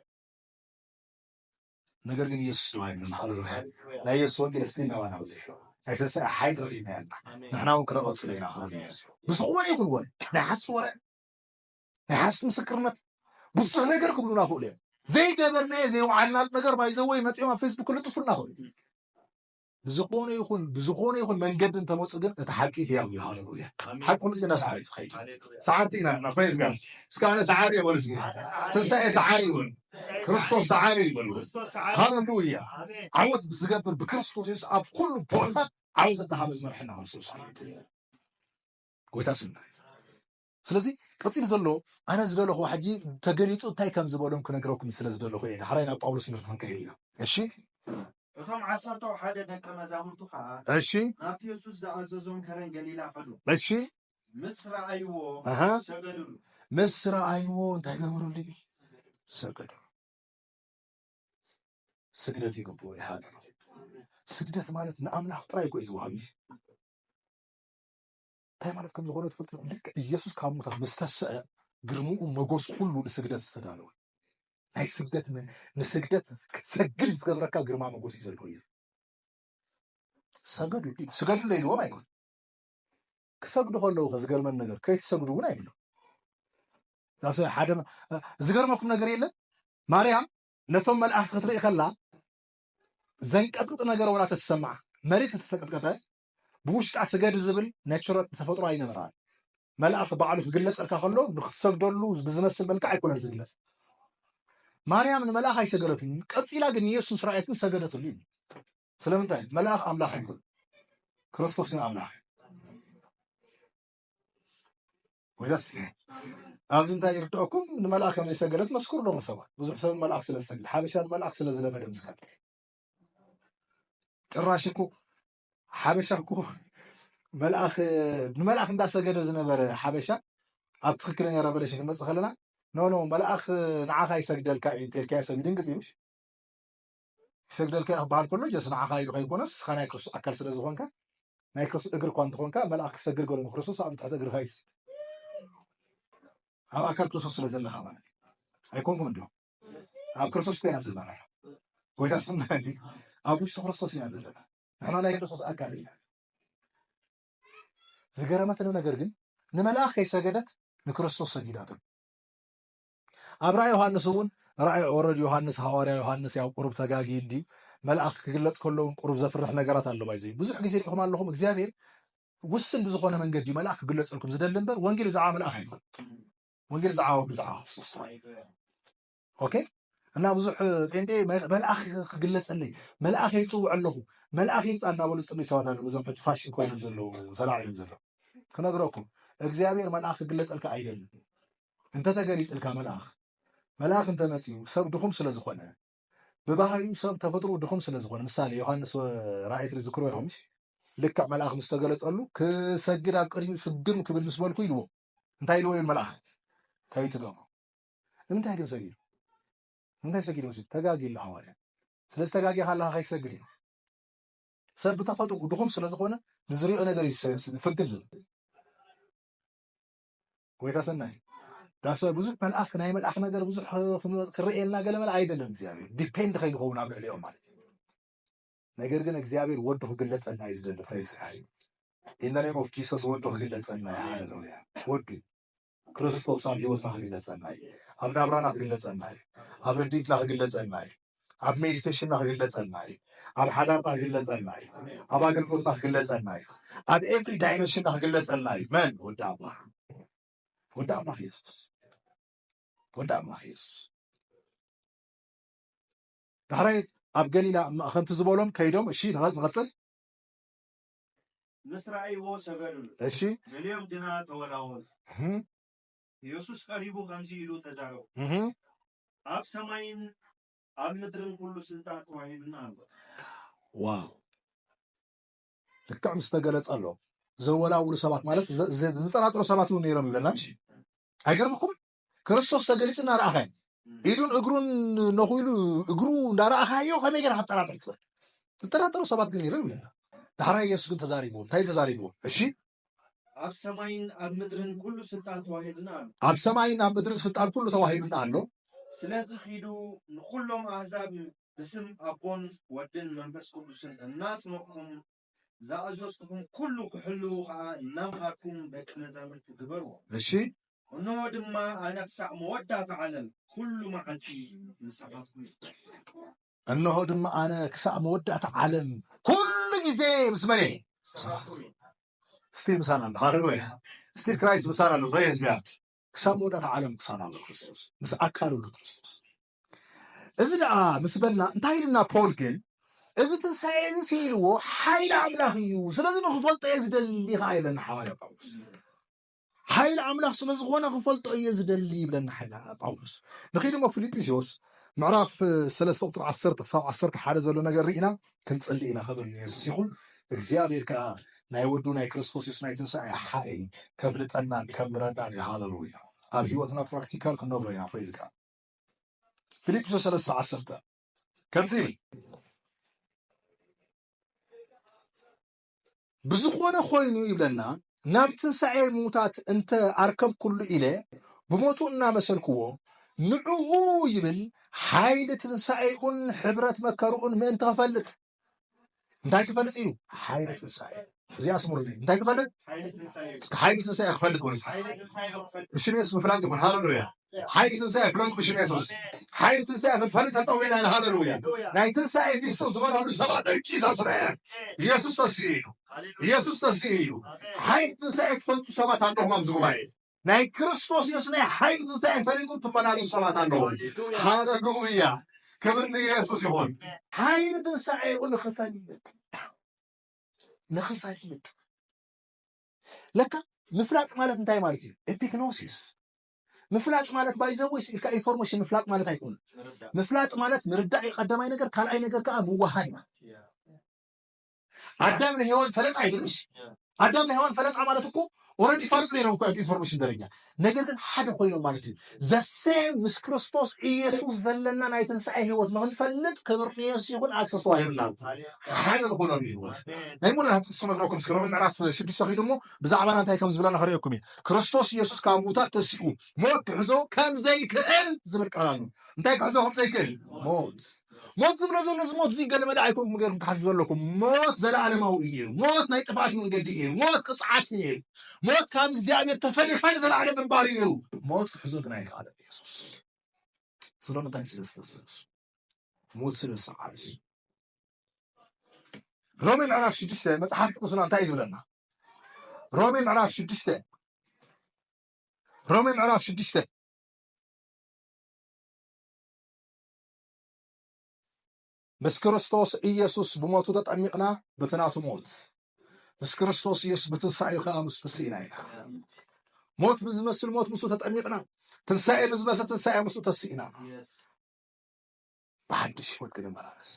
ነገር ግን ኢየሱስ ድማ ይብለና ሃሌሉያ ናይ ኢየሱስ ወንጌል እስቲ ናባና በፂሑ ናይ ትንሣኤ ሓይሊ ረኺብና ያልና ንሕና እውን ክነቐፅሎ ኢና ክብል ኢየሱስ ብዝኾነ ይኹን ወን ናይ ሓስቲ ወረ ናይ ሓስቲ ምስክርነት ብዙሕ ነገር ክብሉና ክእሉ እዮም ዘይገበርናዮ ዘይውዓልናሉ ነገር ባይዘወይ መፂኦም ኣብ ፌስቡክ ክልጥፉልና ክእሉ ብዝኾነ ይኹን ብዝኾነ ይኹን መንገዲ እንተመፁ ግን እቲ ሓቂ ህያው እዩ ሃለሉያ ሓቂ ሁሉ ግዜ ሰዓሪ ዝኸይድ ሰዓርቲ ኢና እና ፕሬዝ ጋድ እስከ ኣነ ሰዓሪ እየ በሉ እስኪ ትንሳኤ ሰዓሪ እዩ በሉ ክርስቶስ ሰዓሪ እዩ በሉ ሃለሉያ ዓወት ብዝገብር ብክርስቶስ የሱስ ኣብ ኩሉ ቦታ ዓወት እናሃበ ዝመርሐና ክርስቶስ ጎይታ ስና ስለዚ ቀጺሉ ዘሎ ኣነ ዝደለኹዎ ሕጂ ተገሊጹ እንታይ ከም ዝበሎም ክነግረኩም ስለ ዝደለኹ እየ ዳሕራይ ናብ ጳውሎስ ትምህርቲ ክንከይድ ኢና እሺ እቶም ዓሰርተው ሓደ ደቀ መዛሙርቱ ኸኣ እሺ ናብቲ የሱስ ዝኣዘዞም ከረን ገሊላ ኸዱ እሺ ምስ ረኣይዎ ሰገዱሉ ምስ ረኣይዎ እንታይ ገበሩሉ ሰገዱ ስግደት ይግብኡ ይሓሉ ስግደት ማለት ንኣምላኽ ጥራይ እኮ እዩ ዝውሃብ እንታይ ማለት ከም ዝኾነ ትፈልጡ ኢኹም? ልክዕ ኢየሱስ ካብ ሙታት ምስ ተስዐ ግርምኡ መጎሱ ኩሉ ንስግደት ዝተዳለወ ናይ ስግደት ንስግደት ክትሰግድ ዝገብረካ ግርማ መጎስ እዩ ዘለዎ ኢየሱስ ሰገዱ ስገዱ ለይልዎም ኣይኮን ክሰግዱ ከለዉ ከዝገርመን ነገር ከይትሰግዱ እውን ኣይብሎም ሓደ ዝገርመኩም ነገር የለን ማርያም ነቶም መልኣኽቲ ክትርኢ ከላ ዘንቀጥቅጥ ነገር ወላ ተትሰምዓ መሬት ተተቀጥቀጠ ብውሽጣ ስገዲ ዝብል ነችረል ብተፈጥሮ ኣይነበራን። መልኣኽ ባዕሉ ክግለጸልካ ከሎ ንክትሰግደሉ ብዝመስል መልክዕ ኣይኮነን ዝግለጽ። ማርያም ንመልኣኽ ኣይሰገደትሉን፣ ቀጺላ ግን ንየሱስ ምስ ረኣየት ግን ሰገደትሉ እዩ። ስለምንታይ? መልኣኽ ኣምላኽ ኣይኮነን፣ ክርስቶስ ግን ኣምላኽ ወይዛስ ኣብዚ እንታይ ይርድኦኩም ንመልኣኽ ከም ዝሰገደት መስክሩ ዶ ሰባት ብዙሕ ሰብ መልኣኽ ስለ ዝሰግድ ሓበሻ ንመልኣኽ ስለ ዝለመደ ምስካል ጭራሽ እኮ ሓበሻ እኮ መልኣኽ ንመልኣኽ እንዳሰገደ ዝነበረ ሓበሻ ኣብ ትክክለኛ ረቨሌሽን ክንመፅእ ከለና ኖ ኖ መልኣኽ ንዓኻ ይሰግደልካ እዩ እንተልካዮ ሰብ ይድንግፅ እዩ ይሰግደልካ እዩ ክበሃል ከሎ ጀስ ንዓኻ ኢሉ ከይኮነስ ንስኻ ናይ ክርስቶስ ኣካል ስለ ዝኾንካ ናይ ክርስቶስ እግሪ እኳ እንተኾንካ መልኣኽ ክሰግድ ገሎ ክርስቶስ ኣብ ትሕቲ እግርኻ ይስ ኣብ ኣካል ክርስቶስ ስለ ዘለኻ ማለት እዩ ኣይኮንኩም እንዲኹም ኣብ ክርስቶስ ኮይና ዘለና ጎይታ ስም ኣብ ውሽጢ ክርስቶስ ኢና ዘለና ንሕና ናይ ክርስቶስ ኣካል ኢና ዝገረመትኒ ነገር ግን ንመልኣኽ ከይሰገደት ንክርስቶስ ሰጊዳትሉ ኣብ ራእይ ዮሃንስ እውን ራእይ ወረድ ዮሃንስ ሃዋርያ ዮሃንስ ያው ቁሩብ ተጋጊ እንድዩ መልኣኽ ክግለፅ ከለውን ቁሩብ ዘፍርሕ ነገራት ኣሎ ባይዘዩ ብዙሕ ግዜ ሪኹም ኣለኹም እግዚኣብሔር ውስን ብዝኾነ መንገዲ እዩ መልኣኽ ክግለፀልኩም ዝደሊ እምበር ወንጌል ብዛዕባ መልኣኽ ኣይኮን ወንጌል ብዛዕባ ወዱ ብዛዕባ ክርስቶስ ኦኬ እና ብዙሕ ጴንጤ መልኣኽ ክግለፀለይ መልኣኽ ይፅውዕ ኣለኹ መልኣኽ ይምፃ እናበሉ ፅልይ ሰባት ኣለዉ እዞም ሕጂ ፋሽን ኮይኖም ዘለዉ ተላዒሎም ዘለዉ ክነግረኩም እግዚኣብሔር መልኣኽ ክግለፀልካ ኣይደልን እንተተገሊፅልካ መልኣኽ መልኣኽ እንተመፅኡ ሰብ ድኹም ስለ ዝኾነ ብባህሪኡ ሰብ ተፈጥሮ ድኹም ስለ ዝኾነ ምሳሌ ዮሃንስ ራእይ ትዝክሮ ይኸምሽ ልክዕ መልኣኽ ምስ ተገለፀሉ ክሰግድ ኣብ ቅድሚ ፍግም ክብል ምስ በልኩ ኢልዎ እንታይ ኢልዎ ይብል መልኣኽ ከይትገብሩ ንምንታይ ግን ሰጊዱ ንምንታይ ሰጊዱ መሲ ተጋጊ ኣሎ ሃዋርያ ስለዚ ተጋጊ ካለካ ከይትሰግድ እዩ ሰብ ብተፈጥኡ ድኹም ስለዝኾነ ንዝሪኦ ነገር ፍግም ዝብል ጎይታ ሰናይ ዳስ ብዙሕ መልኣኽ ናይ መልኣኽ ነገር ብዙሕ ክረኤልና ገለ መለ ኣይደለን እግዚኣብሔር ዲፔንድ ከይንኸውን ኣብ ልዕሊኦም ማለት እዩ ነገር ግን እግዚኣብሔር ወዱ ክግለጸልና እዩ ዝደሊ ፕሬዝ ኢን ኔም ኦፍ ጂሰስ ወዱ ክግለጸልና እዩ ሃሌሉያ ወዱ ክርስቶስ ኣብ ህይወትና ክግለጸልና እዩ ኣብ ናብራና ክግለጸልና እዩ ኣብ ርድኢትና ክግለጸልና እዩ ኣብ ሜዲቴሽንና ክግለጸልና እዩ ኣብ ሓዳርና ክግለጸልና እዩ ኣብ ኣገልግሎትና ክግለጸልና እዩ ኣብ ኤቭሪ ዳይመንሽንና ክግለጸልና እዩ መን ወዲ ኣምላኽ ወዲ ኣምላኽ የሱስ ወዲ ኣምላኽ የሱስ ዳሕራይ ኣብ ገሊላ እማ ከምቲ ዝበሎም ከይዶም እሺ ንቐጽል። ምስ ረኣይዎ ሰገዱሉ። እሺ ገሊኦም ግና ተወላወሉ። እህ ኢየሱስ ቀሪቡ ከምዚ ኢሉ ተዛረቦም፣ እህ ኣብ ሰማይን ኣብ ምድርን ኩሉ ስልጣን ተዋሂቡኒ ኣሎ። ዋው ልክዕ ምስ ተገለጸሎም ዘወላውሉ ሰባት ማለት ዘ- ዘ- ዝጠራጠሩ ሰባት እውን ነይሮም ይብለና እሺ። ኣይገርምኩም ክርስቶስ ተገሊጹ እናረኣኻዮ ኢዱን እግሩን ነኺሉ እግሩ እንዳረኣኻዮ ከመይ ጌርካ ትጠራጠር ትኽእል? ዝጠራጠሩ ሰባት ግን ይርም ይብላ። ዳሕራይ የሱስ ግን ተዛሪብዎ። እንታይ እዩ ተዛሪብዎ? እሺ ኣብ ሰማይን ኣብ ምድርን ኩሉ ስልጣን ተዋሂብና ኣሎ። ኣብ ሰማይን ኣብ ምድርን ስልጣን ኩሉ ተዋሂብና ኣሎ። ስለዚ ኺዱ ንዅሎም ኣህዛብ ብስም ኣቦን ወድን መንፈስ ቅዱስን እናጥመቕኩም ዝኣዘዝኩኹም ኩሉ ክሕልዉ ኸኣ እናምሃርኩም ደቂ መዛሙርቲ ግበርዎም። እሺ። እነሆ ድማ ኣነ ክሳዕ መወዳእታ ዓለም ኩሉ መዓልቲ ምሳኻትኩም እየ። እነሆ ድማ ኣነ ክሳዕ መወዳእታ ዓለም ኩሉ ግዜ ምስ መን እየ? ስቲል ምሳና ኣሎ። ሃሌሉያ! ስቲል ክራይስት ምሳና ኣሎ። ፕሬዝ ጋድ ክሳብ መወዳእታ ዓለም ምሳና ኣሎ ክርስቶስ ምስ ኣካሉ ኣሎ ክርስቶስ እዚ ደኣ ምስ በልና እንታይ ኢሉና ፖል ግን እዚ ትንሳኤ እዚ ስኢልዎ ሓይሊ ኣምላኽ እዩ ስለዚ ንክፈልጦ እየ ዝደሊ ከዓ ይብለና ሓዋርያ ጳውሎስ ሓይሊ ኣምላኽ ስለ ዝኾነ ክፈልጦ እየ ዝደሊ ይብለና ሓይሊ ጳውሎስ ንኸይድ እሞ ፊልጵስዮስ ምዕራፍ ሰለስተ ቁፅሪ ዓሰርተ ክሳብ ዓሰርተ ሓደ ዘሎ ነገር ርኢና ክንፅሊ ኢና ክብል ንየሱስ ይኹን እግዚኣብሔር ከዓ ናይ ወዱ ናይ ክርስቶስ የሱስ ናይ ትንሳኤ ሓይሊ ከፍልጠናን ከምረናን እዩ ሃለሉያ ኣብ ህይወትና ፕራክቲካል ክንነብሮ ኢና ፕሬዝ ጋድ ፊልጵስዩስ ሰለስተ ዓሰርተ ከምዚ ይብል ብዝኾነ ኮይኑ ይብለና ናብ ትንሣኤ ምዉታት እንተ ኣርከብኩሉ ኢለ ብሞቱ እናመሰልክዎ ንዕኡ ይብል ሓይሊ ትንሣኤኡን ሕብረት መከርኡን ምእንቲ ኸፈልጥ እንታይ ክፈልጥ እዩ? ሓይሊ ትንሳኤ እዚ ኣስምሩለይ። እንታይ ክፈልጥ? እስከ ሓይሊ ትንሳኤ ክፈልጥ በሉ። ብሽም የሱስ ምፍላጥ ይኹን። ሃለሉያ! ሓይሊ ትንሳኤ ፍለጡ ብሽም የሱስ። ሓይሊ ትንሳኤ ክንፈልጥ ተጸዊዕና ኢና። ሃለሉያ! ናይ ትንሳኤ ሚስጥር ዝኾነሉ ሰባት ደቂ ዛስረ ኢየሱስ ተስኢ እዩ። ኢየሱስ ተስኢ እዩ። ሓይሊ ትንሳኤ ትፈልጡ ሰባት ኣለኹም ኣብዚ ጉባኤ ናይ ክርስቶስ የሱስ ናይ ሓይሊ ትንሣኤ ፈሊጡ ትመላለሱ ሰባት ኣለዉ። ሃለሉያ! ክብሪ ንኢየሱስ ይኹን። ሓይሊ ትንሣኤኡ ንኽፈልጥ ንኽፈልጥ ለካ ምፍላጥ ማለት እንታይ ማለት እዩ? ኤፒግኖሲስ ምፍላጥ ማለት ባይዘወይ ስኢልካ ኢንፎርሜሽን ምፍላጥ ማለት ኣይኮነ። ምፍላጥ ማለት ምርዳእ እዩ ቀዳማይ ነገር፣ ካልኣይ ነገር ከዓ ምዋሃይ ማለት ኣዳም ንሔዋን ፈለጣ ይብል እሺ ኣዳም ንሔዋን ፈለጣ ማለት እኮ ኦረዲ ይፋለጡ ነይሮም እኮ ኢንፎርሜሽን ደረጃ ነገር ግን ሓደ ኮይኖም ማለት እዩ ዘሴም ምስ ክርስቶስ ኢየሱስ ዘለና ናይ ትንሣኤ ህይወት ንክንፈልጥ ክብርንየስ ይኹን ኣክሰስ ተዋሂብና ሓደ ንኾኖም ህይወት ናይ ሙሉ ሃብቲ ክሰመግረኩም እስከ ሮሜ ምዕራፍ ሽዱሽተ ኪዱ እሞ ብዛዕባና እንታይ ከም ዝብለና ክርእየኩም እዩ ክርስቶስ ኢየሱስ ካብ ምውታት ተሲኡ ሞት ክሕዞ ከም ዘይክእል ዝብል ቃል ኣሎ እንታይ ክሕዞ ከም ዘይክእል ሞት ሞት ዝብሎ ዘሎ እዚ ሞት እዚ ገለመለ ኣይኮንኩም ገይርኩም ትሓስቡ ዘለኩም ሞት ዘለኣለማዊ እዩ ነይሩ ሞት ናይ ጥፍኣት መንገዲ እዩ ነይሩ ሞት ቅፅዓት እዩ ነይሩ ሞት ካብ እግዚኣብሔር ተፈሊካ ንዘለኣለም ምንባር እዩ ነይሩ ሞት ክሕዞ ግን ኣይከኣለን ኢየሱስ ስለምንታይ ስለ ዝተሰሱ ሞት ስለ ዝሰዓረ እዩ ሮሜ ምዕራፍ ሽዱሽተ መፅሓፍ ቅዱስና እንታይ እዩ ዝብለና ሮሜ ምዕራፍ ሽዱሽተ ሮሜ ምዕራፍ ሽዱሽተ ምስ ክርስቶስ ኢየሱስ ብሞቱ ተጠሚቕና በቲ ናቱ ሞት ምስ ክርስቶስ ኢየሱስ ብትንሳኤ ከኣ ምስ ተስኢና ኢና ሞት ብዝመስል ሞት ምስኡ ተጠሚቕና ትንሳኤ ብዝመስል ትንሳኤ ምስኡ ተስኢና ብሓድሽ ህይወት ክንመላለስ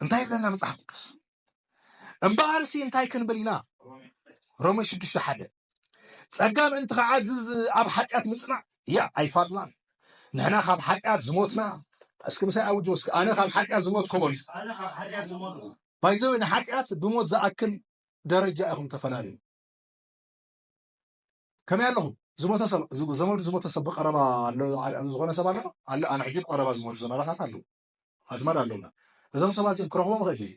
እንታይ ይብለና መጽሓፍ ቅዱስ እምበኣርሲ እንታይ ክንብል ኢና? ሮሜ ሽዱሽተ ሓደ ጸጋ ምእንቲ ክዓዝዝ ኣብ ሓጢኣት ምጽናዕ እያ ኣይፋልናን ንሕና ካብ ሓጢኣት ዝሞትና እስኪ ምሳይ ኣውጆ እስኪ ኣነ ካብ ሓጢኣት ዝሞትኮ በሉ ባይዘወ ንሓጢኣት ብሞት ዝኣክል ደረጃ ኢኹም ተፈላለዩ ከመይ ኣለኹም ዝሞተ ሰብ ዘመዱ ዝሞተ ሰብ ብቀረባ ኣሎ ዝኾነ ሰብ ኣሎ ኣሎ ኣነ ሕጂ ብቀረባ ዝሞቱ ዘመዳታት ኣለዉ ኣዝማድ ኣለውና እዞም ሰባት እዚኦም ክረኽቦም ይኽእል ድየ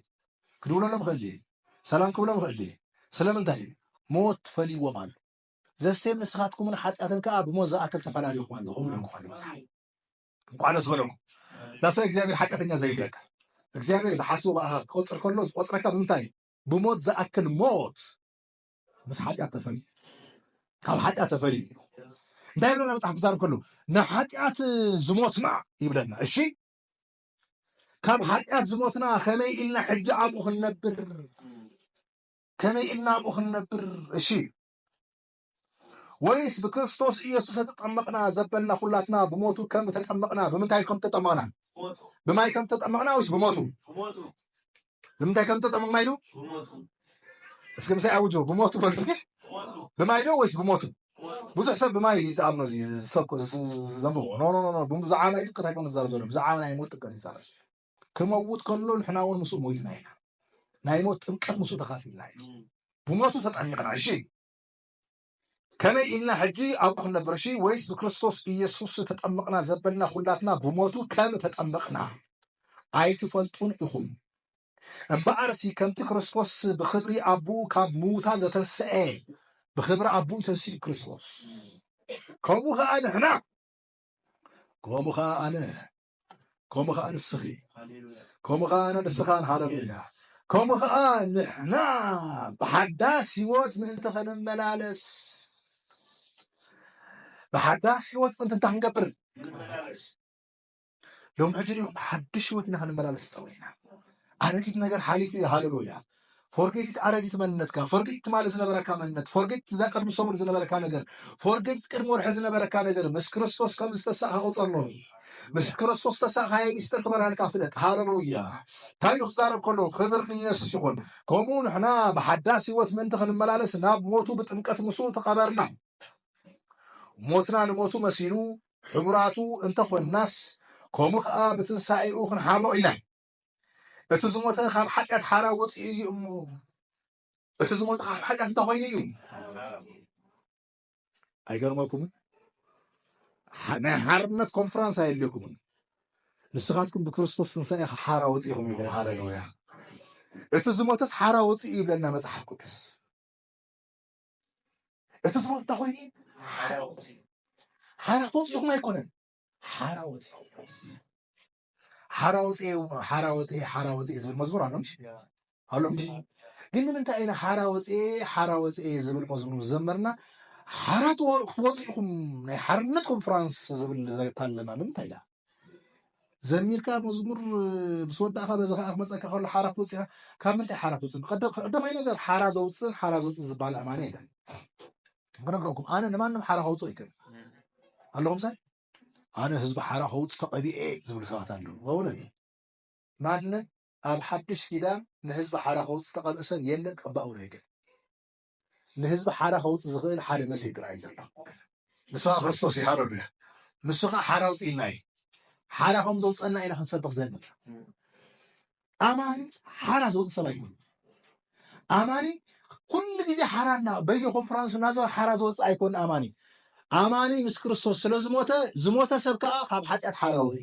ክድውለሎም ይኽእል ድየ ሰላም ክብሎም ይኽእል ድየ ስለምንታይ ሞት ፈልይዎም ኣሎ ዘሴም ንስኻትኩምን ሓጢኣትን ከዓ ብሞት ዝኣክል ተፈላለኹም ኣለኹም ኢለኩም ኣሎ መፅሓፍ እንኳዕ ደስ በለኩም ዳሰ እግዚኣብሔር ሓጢኣተኛ ዘይብለካ እግዚኣብሔር ዝሓስቡ ብኣኻ ክቆፅር ከሎ ዝቆፅረካ ብምንታይ እዩ ብሞት ዝኣክል ሞት ምስ ሓጢኣት ተፈልዩ ካብ ሓጢኣት ተፈልዩ እንታይ ይብለና መፅሓፍ ክዛረብ ከሎ ንሓጢኣት ዝሞትና ይብለና እሺ ካብ ሓጢኣት ዝሞትና ከመይ ኢልና ሕጂ ኣብኡ ክንነብር ከመይ ኢልና ኣብኡ ክንነብር እሺ ወይስ ብክርስቶስ ኢየሱስ ተጠመቕና ዘበልና ኩላትና ብሞቱ ከም ተጠመቕና ብምንታይ ከም ተጠመቕና ብማይ ከም ተጠመቕና ወይስ ብሞቱ ንምንታይ ከም ተጠመቕና ኢሉ እስኪ ምሳይ ኣውጆ ብሞቱ በሉ እስኪ ብማይ ዶ ወይስ ብሞቱ ብዙሕ ሰብ ብማይ ዝኣምኖ እዚ ዝሰብኮ ዘንብቦ ኖኖኖ ብዛዕባ ማይ ጥቅት ኣይኮነ ዝዛረብ ዘሎ ብዛዕባ ናይ ሞት ጥቅት ይዛረብ ክመውት ከሎ ንሕና እውን ምስኡ ሞይትና ኢና ናይ ሞት ጥምቀት ምስኡ ተኻፊልና ኢና ብሞቱ ተጠሚቕና እሺ ከመይ ኢልና ሕጂ ኣብኡ ክንነብርሺ ወይስ ብክርስቶስ ኢየሱስ ተጠምቕና ዘበልና ኹላትና ብሞቱ ከም ተጠምቕና ኣይትፈልጡን ኢኹም እምበኣርሲ ከምቲ ክርስቶስ ብክብሪ ኣቡኡ ካብ ምዉታ ዘተንስኤ ብክብሪ ኣቡኡ ተንስኡ ክርስቶስ ከምኡ ከኣ ንሕና ከምኡ ከኣ ኣነ ከምኡ ከዓ ንስኺ ከምኡ ከዓ ኣነ ንስኻን ሃለሉያ ከምኡ ከዓ ንሕና ብሓዳስ ህይወት ምእንቲ ክንመላለስ ብሓዳስ ህይወት ምእንቲ እንታይ ክንገብር ሎም ሕጂ ዲኹም ሓድሽ ህይወት ኢና ክንመላለስ ፀዊዕና ኣረጊት ነገር ሓሊፉ እዩ ሃለሉያ ፎርጌት ኢት ኣረጊት መንነትካ ፎርጌት ኢት ትማሊ ዝነበረካ መንነት ፎርጌት ኢት እዛ ቅድሚ ሰሙን ዝነበረካ ነገር ፎርጌት ኢት ቅድሚ ወርሒ ዝነበረካ ነገር ምስ ክርስቶስ ከም ዝተሳእካ ቁጸር ሎሚ ምስ ክርስቶስ ተሳእካዮ ሚስጥር ክበርሃልካ ፍለጥ ሃለሉያ እንታይ ኢሉ ክዛረብ ከሎ ክብር ንኢየሱስ ይኹን ከምኡ ንሕና ብሓዳስ ህይወት ምእንቲ ክንመላለስ ናብ ሞቱ ብጥምቀት ምስኡ ተቐበርና ሞትና ንሞቱ መሲሉ ሕቡራቱ እንተኾንናስ ከምኡ ከኣ ብትንሳኤኡ ክንሓብሮ ኢና እቲ ዝሞተ ካብ ሓጢኣት ሓራ ወፂኡ እዩ እሞ እቲ ዝሞተ ካብ ሓጢኣት እንታይ ኮይኑ እዩ ኣይገርመኩምን ናይ ሓርነት ኮንፈረንስ ኣየድልየኩምን ንስኻትኩም ብክርስቶስ ትንሳኤ ሓራ ወፂኹም ይብል ሃለሉያ እቲ ዝሞተስ ሓራ ወፂኡ ይብለና መፅሓፍ ቅዱስ እቲ ዝሞት እንታይ ኮይኑ ሓራ ወፂኡ ሓራ ተወፂኹም ኣይኮነን ሓራ ወፂኹም ሓራ ወፅኤ ሓራ ወፅኤ ሓራ ወፅኤ ዝብል መዝሙር ኣሎ ኣሎ ግን ንምንታይ ኢና ሓራ ወፅኤ ሓራ ወፅኤ ዝብል መዝሙር ዝዘመርና ሓራ ክትወጡ ኢኹም ናይ ሓርነት ኮንፈራንስ ዝብል ዘታለና ንምንታይ ኢና ዘሚርካ መዝሙር ምስ ወዳእካ በዚ ከዓ ክመፀካ ከሎ ሓራ ክትወፅእ ኢኻ ካብ ምንታይ ሓራ ክትወፅእ ቀዳማይ ነገር ሓራ ዘውፅእን ሓራ ዘውፅእ ዝበሃል ኣማኒ የለን ክነግረኩም ኣነ ንማንም ሓራ ከውፅኦ ይክእል ኣለኹም ሳይ ኣነ ህዝቢ ሓራ ከውፅ ተቐቢኤ ዝብሉ ሰባት ኣለዉ። በእውነት ማንም ኣብ ሓድሽ ኪዳን ንህዝቢ ሓራ ከውፅ ዝተቐብአ ሰብ የለን ቀባኡ ናይ ግን ንህዝቢ ሓራ ከውፅ ዝኽእል ሓደ መሰይ ጥራይ ዘሎ ንስኻ ክርስቶስ እዩ ሃለሉያ ንሱ ከዓ ሓራ ውፅኢና እዩ ሓራ ከም ዘውፀና ኢና ክንሰብኽ ዘለና ኣማኒ ሓራ ዝወፅ ሰብ ኣይኮነ ኣማኒ ኩሉ ግዜ ሓራ እና በየ ኮንፈራንስ እናዘወ ሓራ ዝወፅ ኣይኮነ ኣማኒ ኣማኒ ምስ ክርስቶስ ስለ ዝሞተ ዝሞተ ሰብ ከዓ ካብ ሓጢኣት ሓራ ወፂ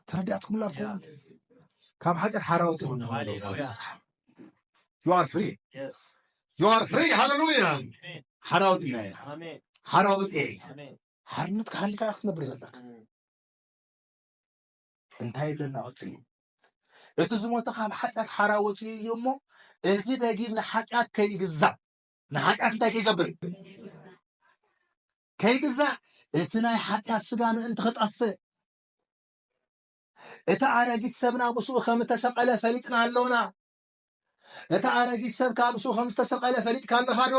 ተረዳእትኩምላ ትኸውን ካብ ሓጢኣት ሓራ ወፂ ዩኣር ፍሪ ዩኣር ፍሪ ሃለሉያ ሓራ ወፂና ኢና ሓራ ወፂ ሓርነት ክሃልካ ክትነብር ዘለካ እንታይ ኣለና ቀጽልዩ እቲ ዝሞተ ካብ ሓጢኣት ሓራ ወፅኡ እዩ እሞ እዚ ደጊም ንሓጢኣት ከይግዛእ ንሓጢኣት እንታይ ከይገብር ከይግዛእ እቲ ናይ ሓጢኣት ስጋ ምእንቲ ክጠፍእ እቲ ኣረጊት ሰብና ምስኡ ከም እተሰቐለ ፈሊጥና ኣሎና እቲ ኣረጊት ሰብ ካብ ምስኡ ከም ዝተሰቐለ ፈሊጥካ ኣለኻ ዶ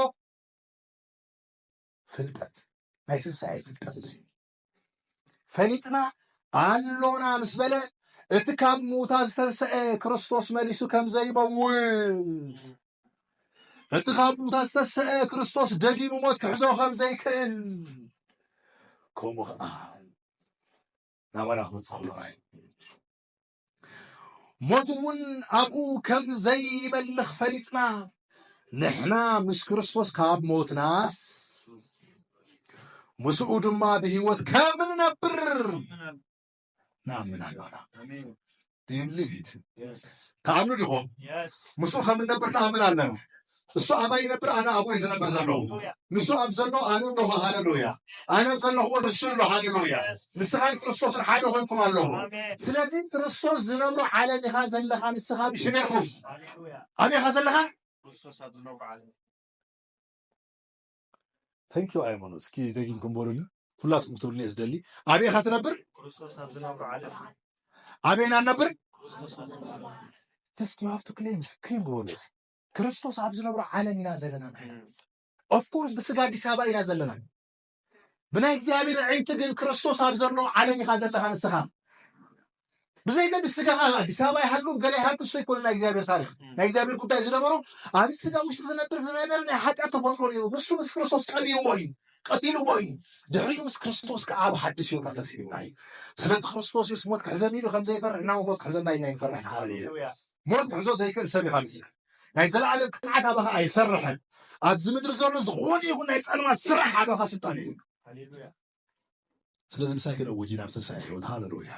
ፍልጠት ናይ ትንሳኤ ፍልጠት እዚ ፈሊጥና ኣሎና ምስ በለ እቲ ካብ ምውታ ዝተንስዐ ክርስቶስ መሊሱ ከም ዘይመውት እቲ ካብ ምውታ ዝተሰዐ ክርስቶስ ደጊሙ ሞት ክሕዞ ከም ዘይክእል ከምኡ ከዓ ናባና ክመፅእ ከሎ ሞት እውን ኣብኡ ከም ዘይመልኽ ፈሊጥና ንሕና ምስ ክርስቶስ ካብ ሞትናስ ምስኡ ድማ ብህይወት ከም ንነብር ንኣምን ኣሎና ዲብሊቪት ተኣምኑ ዲኹም ምስኡ ከም ንነብር ንኣምን ኣለና እሱ ኣባይ ይነብር ኣነ ኣቦይ ዝነብር ዘለዉ ንሱ ኣብ ዘሎ ኣነ ኣለኹ ሃለሉያ ኣነ ዘለኹዎ ንሱ ኣሎ ሃለሉያ ንስኻን ክርስቶስን ሓደ ኮንኩም ኣለኹ ስለዚ ክርስቶስ ዝነብሮ ዓለም ኢኻ ዘለኻ ንስኻ ብሽሜኩም ኣበይኻ ዘለኻ ክርስቶስ ኣብ ዝነብሮ ዓለም ተንኪ ኣይመኑ እስኪ ደጊምኩም በሉኒ ሁላትኩም ክትብሉኒ እየ ዝደሊ ኣበይኻ ትነብር ክርስቶስ ኣብ ዝነብሮ ዓለም ኣበይና ነብር ተስኪ ሃፍቱ ክሌምስ ክሌም ግበሉ ክርስቶስ ኣብ ዝነብሮ ዓለም ኢና ዘለና ንሕና ኦፍኮርስ ብስጋ ኣዲስ ኣበባ ኢና ዘለና ብናይ እግዚኣብሔር ዕይቲ ግን ክርስቶስ ኣብ ዘለዎ ዓለም ኢኻ ዘለኻ ንስኻ ብዘይገድ ስጋኻ ኣዲስ ኣበባ ይሃሉ ገለ ይሃሉ እሱ ይኮኑ ናይ እግዚኣብሔር ታሪክ ናይ እግዚኣብሔር ጉዳይ ዝነበሮ ኣብ ስጋ ውሽጢ ዝነብር ዝነበረ ናይ ሓጢኣት ተፈጥሮ እዩ ንሱ ምስ ክርስቶስ ቀቢርዎ እዩ ቀቲልዎ እዩ ድሕሪኡ ምስ ክርስቶስ ከዓ ኣብ ሓድሽ ህይወት ኣተሲብና እዩ ስለዚ ክርስቶስ የስ ሞት ክሕዘኒ ኢሉ ከምዘይፈርሕ እና ሞት ክሕዘና ኢና ይንፈርሕ ሃሌሉያ ሞት ክሕዞ ዘይክእል ሰብ ኢኻ መሲልካ። ናይ ዘለኣለም ቅፅዓት ኣባኻ ኣይሰርሕን። ኣብዚ ምድሪ ዘሎ ዝኾነ ይኹን ናይ ፀልማት ስራሕ ኣባኻ ስልጣን የብሉን። ስለዚ ምሳይ ክነውጅ ኢና ብትንሳኤ ሕይወት ሃለሉያ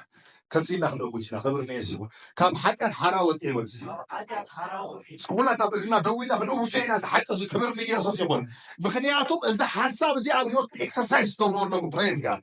ከምዚ ኢልና ክነውጅ ኢና ክብር ንየሱ ይኹን። ካብ ሓጢኣት ሓራ ወፂኤ በሉ እስኪ ኩላትና ኣብ እግርና ደው ኢልና ክንእውጀ ኢና ዝሓቂ እዚ ክብር ንየሱስ ይኹን። ምክንያቱ እዚ ሓሳብ እዚ ኣብ ህይወትኩም ኤክሰርሳይዝ ትገብሩ ኣለኩም ፕሬዝ ጋድ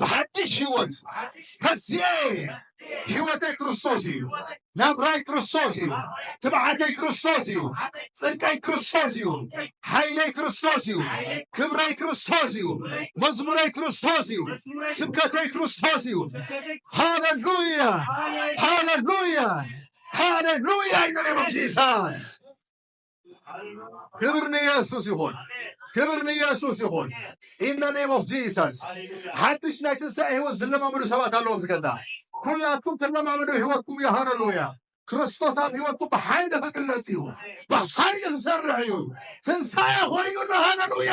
ብሓድሽ ህይወት ተስየ ህይወተይ ክርስቶስ እዩ ናብራይ ክርስቶስ እዩ ትብዓተይ ክርስቶስ እዩ ፅድቀይ ክርስቶስ እዩ ሓይለይ ክርስቶስ እዩ ክብረይ ክርስቶስ እዩ መዝሙረይ ክርስቶስ እዩ ስብከተይ ክርስቶስ እዩ ሃለሉያ ሃለሉያ ሃለሉያ ይነሬ ጂሳስ ክብር ንየሱስ ይኹን፣ ክብር ንየሱስ ይኹን። ኢን ዘ ኔም ኦፍ ጂሰስ ሓድሽ ናይ ትንሳኤ ህይወት ዝለማመዱ ሰባት ኣለዉ ኣብዚ ገዛ። ኩላትኩም ትለማመዱ ህይወትኩም እዩ። ሃለሉያ! ክርስቶስ ኣብ ህይወትኩም ብሓይሊ ክግለጽ እዩ፣ ብሓይሊ ክሰርሕ እዩ። ትንሳኤ ኮይኑ ኣሎ። ሃለሉያ!